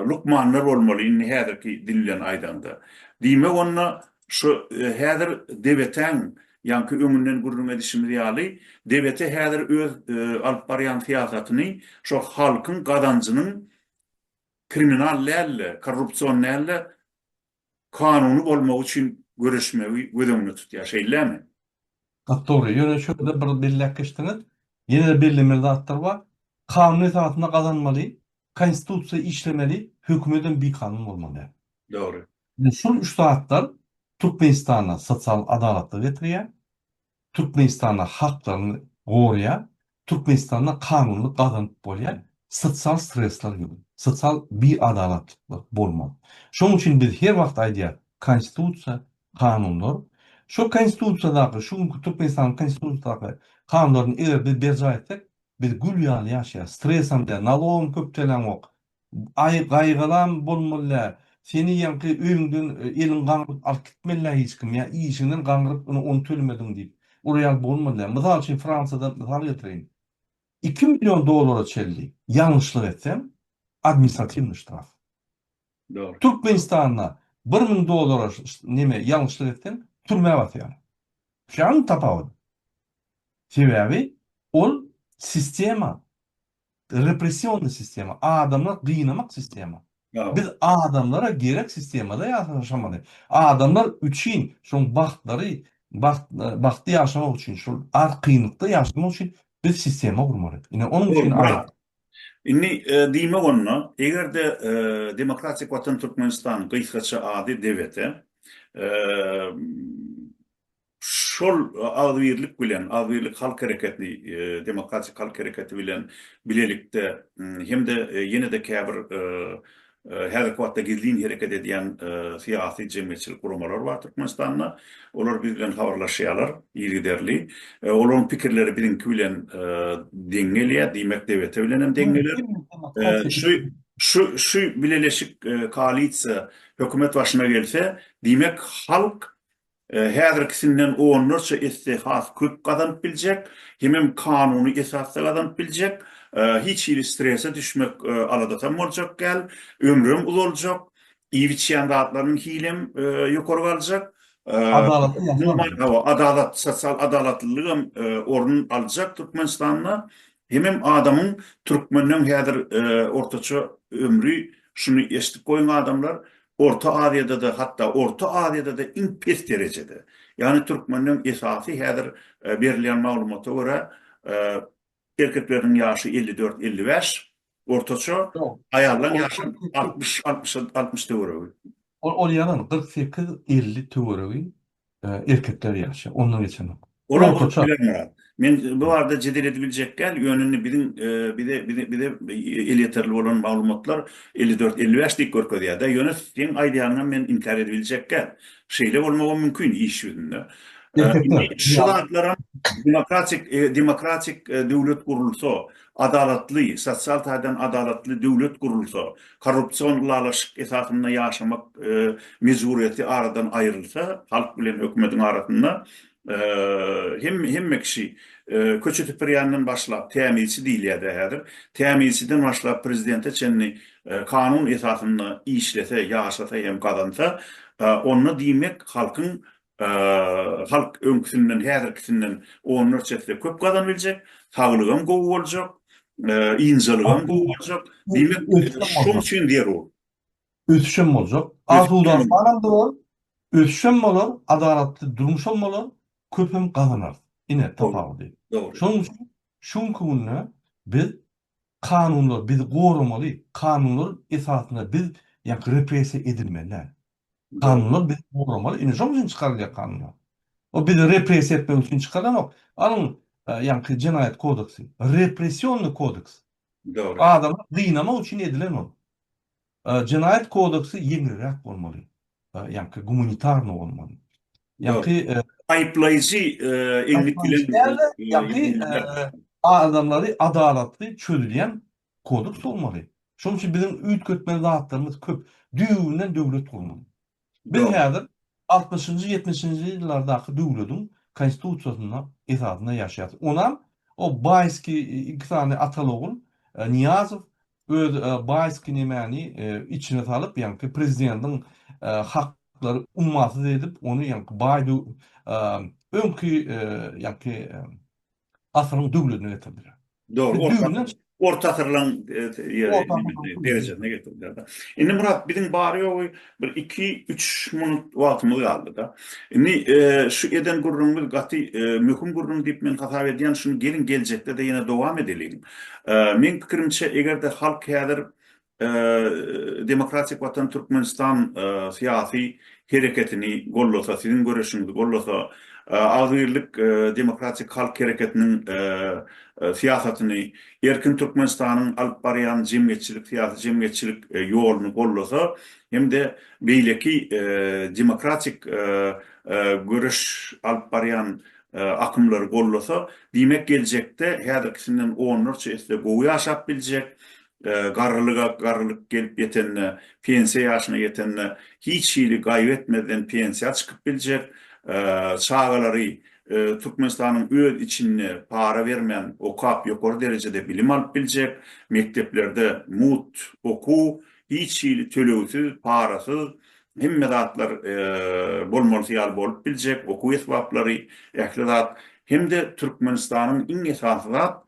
lukmanlar bolmaly, indi häzirki dil bilen aýdanda. Diýmek onda şu häzir DBT-iň, ýaňky öňünden gürrüň edişimiz ýaly, DBT häzir öz alyp barýan syýasatyny şo halkyň gazanjynyň kriminal däl-de, korrupsion däl-de, kanuny bolmagy üçin göreşmegi göz öňünde tutýar, şeýlemi? Gaty dogry. Ýöne şu ýerde bir belläp geçdiňiz. Ýene-de bellemeli zatlar bar. Kanun esasynda gazanmaly, Konstitusiýa işlemeli, hökümetem bikanun bolmaly. Dogry. Şul üç zatlar Türkmenistanda sosial adalatlygy getirýär. Türkmenistanda haklaryňy goraýar, Türkmenistanda kanunlyk gazanyp bolýar, sosial stresler ýok, sosial biadalatlyklar bolmaz. Şonuň üçin biz her wagt aýdýarys, Konstitusiýa, kanunlar, şo Konstitusiýadaky, şu günki Türkmenistanyň Konstitusiýadaky kanunlaryny eger biz berjaý etsek, biz gül ýaly ýaşaýarys, stresem däl, nalogam köp töläňok, Aý gaýgalam bolmalä seni ýaňky öýüňden eliň gaňryp alyp gitmelä hiç kim ýa işiňden gaňryp ine ony tölemediň diýip urýar bolmalä mysal üçin Fransiýadan mysal getireýin iki million dollara çenli ýalňyşlyk etseň administratiwnyý ştraf Dogry. Türkmenistanda bir müň dollara neme ýalňyşlyk etseň türmä basýar şaň tapawudy sebäbi ol sistema Repressionny sistema, adamlary gynamak sistema. Biz adamlara gerek sistemada ýaşamaly. Adamlar üçin şoň bagtlary, bagt, bagtly ýaşamak üçin, şol az kynlykda ýaşamak üçin biz sistema gurmaly. Ine, onuň üçin aýt. Indi diýmek onda, eger-de Demokratik Watan Türkmenistan, gysgaça ady DWT, Şol agzybirlik bilen, agzybirlik halk hereketi, demokratik halk hereketi bilen bilelikde hem-de ýene-de käbir häzirki wagtda gizlin hereket edýän syýasy, jemgyýetçilik guramalar bar Türkmenistanda. Olar biz bilen habarlaşýarlar yzygiderli. Olaryň pikirleri biziňki bilen deň gelýär, diýmek DBT bilen hem deň geler. Şu bileleşik, koalisiýa, hökümet başyna gelse, diýmek halk häzirkisinden onlarça esse has köp gazanyp biljek, hemem kanuny esasda gazanyp biljek, hiç hili strese düşmek aladatam boljak däl, ömrem uzaljak, iýip-içýän zatlarynyň hilem ýokary galjak, adalat, sosial adalatlylygam orun aljak Türkmenistanda, hemem adamyň türkmeniň häzir ortaça ömri, şuny eşidip goýuň adamlar, Orta Aziýada-da, hatda Orta Aziýada-da iň pes derejede. Ýagny türkmenleň esasy häzir berilýän maglumata görä, erkekleriniň ýaşy elli dört, elli bäş ortaça, aýallaryň ýaşy altmyş, altmyş, altmyş töweregi. Ol ýalan, kyrk sekiz, elli töweregi erkekler ýaşaýar, ondan geçenok. Olar bolup biler Myrat. Men bu barada jedel edip biljek däl, ýöne indi biziň bize bize elýeterli bolan maglumatlar elli dört, elli bäş diýip görkezýär-de, ýöne seň aýdýanyňam men inkär edip biljek däl. Şeýle bolmagam mümkin iş ýüzünde. Erkekler. Şu zatlaram demokratik demokratik döwlet gurulsa, adalatly, sosial taýdan adalatly döwlet gurulsa, korrupsion ylalaşyk esasynda ýaşamak mejburyýeti aradan aýrylsa, halk bilen hökümetiň arasynda hemme kişi, köçe süpürýänden başlap, tämizçi diýilýär-dä häzir, tämizçiden başlap prezidente çenli kanun esasynda işlese, ýaşasa hem gazansa, onda diýmek halkyň Halk öňküsinden, häzirkisinden onlarça esse köp gazanyp biljek, saglygam gowy boljak, ynjalygam gowy boljak. Diýmek, şonuň üçin zerur. Ösüşem boljak. Asuda-amanam bolar, ösüşem bolar, adalatly durmuşam bolar, köpem gazanarys. Ine, tapawudy. Şonuň üçin şu günki günde biz kanunlar bizi goramaly, kanunlar esasynda biz repressiýa edilmeli däl. Kanunlar bizi goramaly, indi şonuň üçin çykarylýar kanunlar. Ol bizi repressiýa etmek üçin çykarylanok. Alyň, ýaňky jenaýat kodeksi, repressionnyý kodeks. Dogry. Adamy gynamak üçin edilen ol. Jenaýat kodeksi ýeňilräk bolmaly. Ýaňky gumanitarnyý bolmaly. Ýaňky aýyplaýjy eňlik bilen ýaňky adamlary adalatly çözülýän Kodeks bolmaly. Şonuň üçin biziň üýtgetmeli zatlarymyz köp. Düýbünden döwlet gurmaly. Biz häzir altmyşynjy, ýetmişinji ýyllardaky döwlediň konstitusiýasynda esasynda ýaşaýarys. Onam o baýski iki sany ataly-ogul Nyýazow öz baýski nemäni içine salyp, ýaňky prezidentiň haklary ummasyz edip, ony ýaňky baý öňki ýaňky asyryň döwledine getirdiler. Dogry, orta asyryň derejesine getirdiler-de. Indi Myrat, biziň bary-ýogy bir iki-üç minut wagtymyz galdy-da. Indi şu eden gürrüňimiz gaty möhüm gürrüň diýip men hasap edýän, şuny geliň geljekde-de ýene dowam edeliň. Meň pikirimçe, eger-de halk häzir Demokratik Watan Türkmenistan syýasy hereketini gollasa, siziň göreşiňizi gollasa, Agzybirlik Demokratik Halk Hereketiniň syýasatyny, Erkin Türkmenistanyň alyp barýan jemgyýetçilik, syýasy jemgyýetçilik ýoluny gollasa hem-de beýleki demokratik göreş alyp barýan akymlary gollasa, diýmek geljekde häzirkisinden onlarça esse gowy ýaşap biljek, Garrylyga garrylyk gelip ýetende, pensiýa ýaşyna ýetende hiç hili gaýgy etmezden pensiýa çykyp biljek, çagalary Türkmenistanyň öz içinde para bermän okap ýokary derejede bilim alyp biljek, mekdeplerde mugt okuw hiç hili tölegsiz, parasyz Hemme zatlar bolmalysy ýaly bolup biljek, okuw esbaplary, ähli zat hem-de Türkmenistanyň iň esasy zat,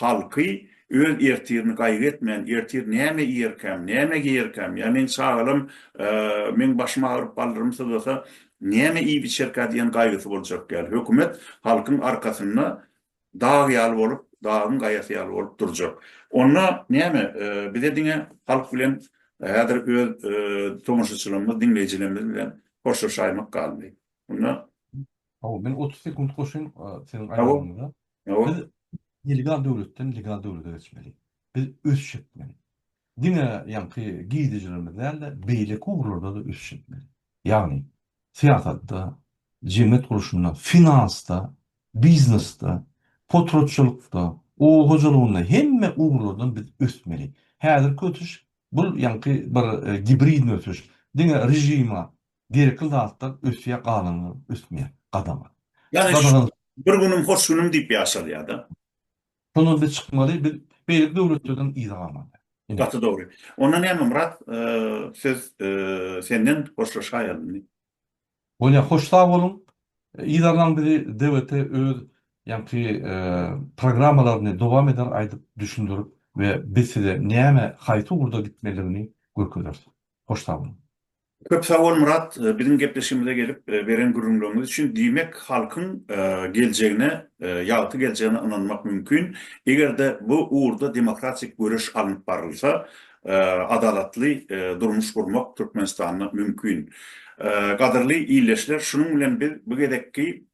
halky öz ertirini gaýgy etmän, ertir näme iýerkäm, näme geýerkäm, ýa meň çagalam, meň başym agyryp baldyrym syzlasa, näme iýip-içerkä diýen gaýgysy boljak däl. Hökümet halkyň arkasynda dag ýaly bolup, dagyň gaýasy ýaly bolup durjak. Onda näme, bize diňe halk bilen häzir öz tomaşaçylarymyz, diňleýjilerimiz bilen hoşlaşaýmak galdy. Onda Hawa, men otuz sekunt goşaýyn seniň aýdanyňa. Biz illegal döwletden legal döwlete geçmeli. Biz ösüş etmeli. Diňe ýaňky girdejilerimiz däl-de, beýleki ugurlarda-da ösüş etmeli. Ýagny, syýasatda, jemgyýet gurluşynda, finansda, biznesde, potratçylykda, oba hojalygynda hemme ugurlardan biz ösmeli. Häzirki ösüş, bul ýaňky bir gibridni ösüş, diňe režima gerekli zatlar ösýär, galanlar ösmeýär, gadagan. Ýagny, şu bir günüm, hoş günüm diýip ýaşalýar-da. Şondan biz çykmaly, biz beýleki döwletlerden yza galmaly. Gaty dogry. Onda näme Myrat, söz senden hoşlaşaýalyň. Bolýar, hoş sag boluň. Yzarlaň bizi DWT öz ýaňky programmalaryny dowam eder aýdyp düşündirip we biz size näme haýsy ugurda gitmeligini görkezeris. Hoş sag boluň. Köp sag bol Myrat biziň gepleşigimize gelip beren gürrüňleriňiz üçin. Diýmek halkyň geljegine ýagty geljegine ynanmak mümkin. Egerde bu ugurda demokratik göreş alnyp barylsa adalatly durmuş gurmak Türkmenistanda mümkin. Gadyrly illeşler şunuň bilen biz bu gezekki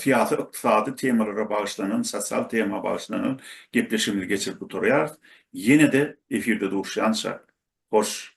syýasy ykdysady temalara bagyşlanan sosial tema bagyşlanan gepleşigimizi geçirip gutarýarys. Ýenede efirde duşýança hoş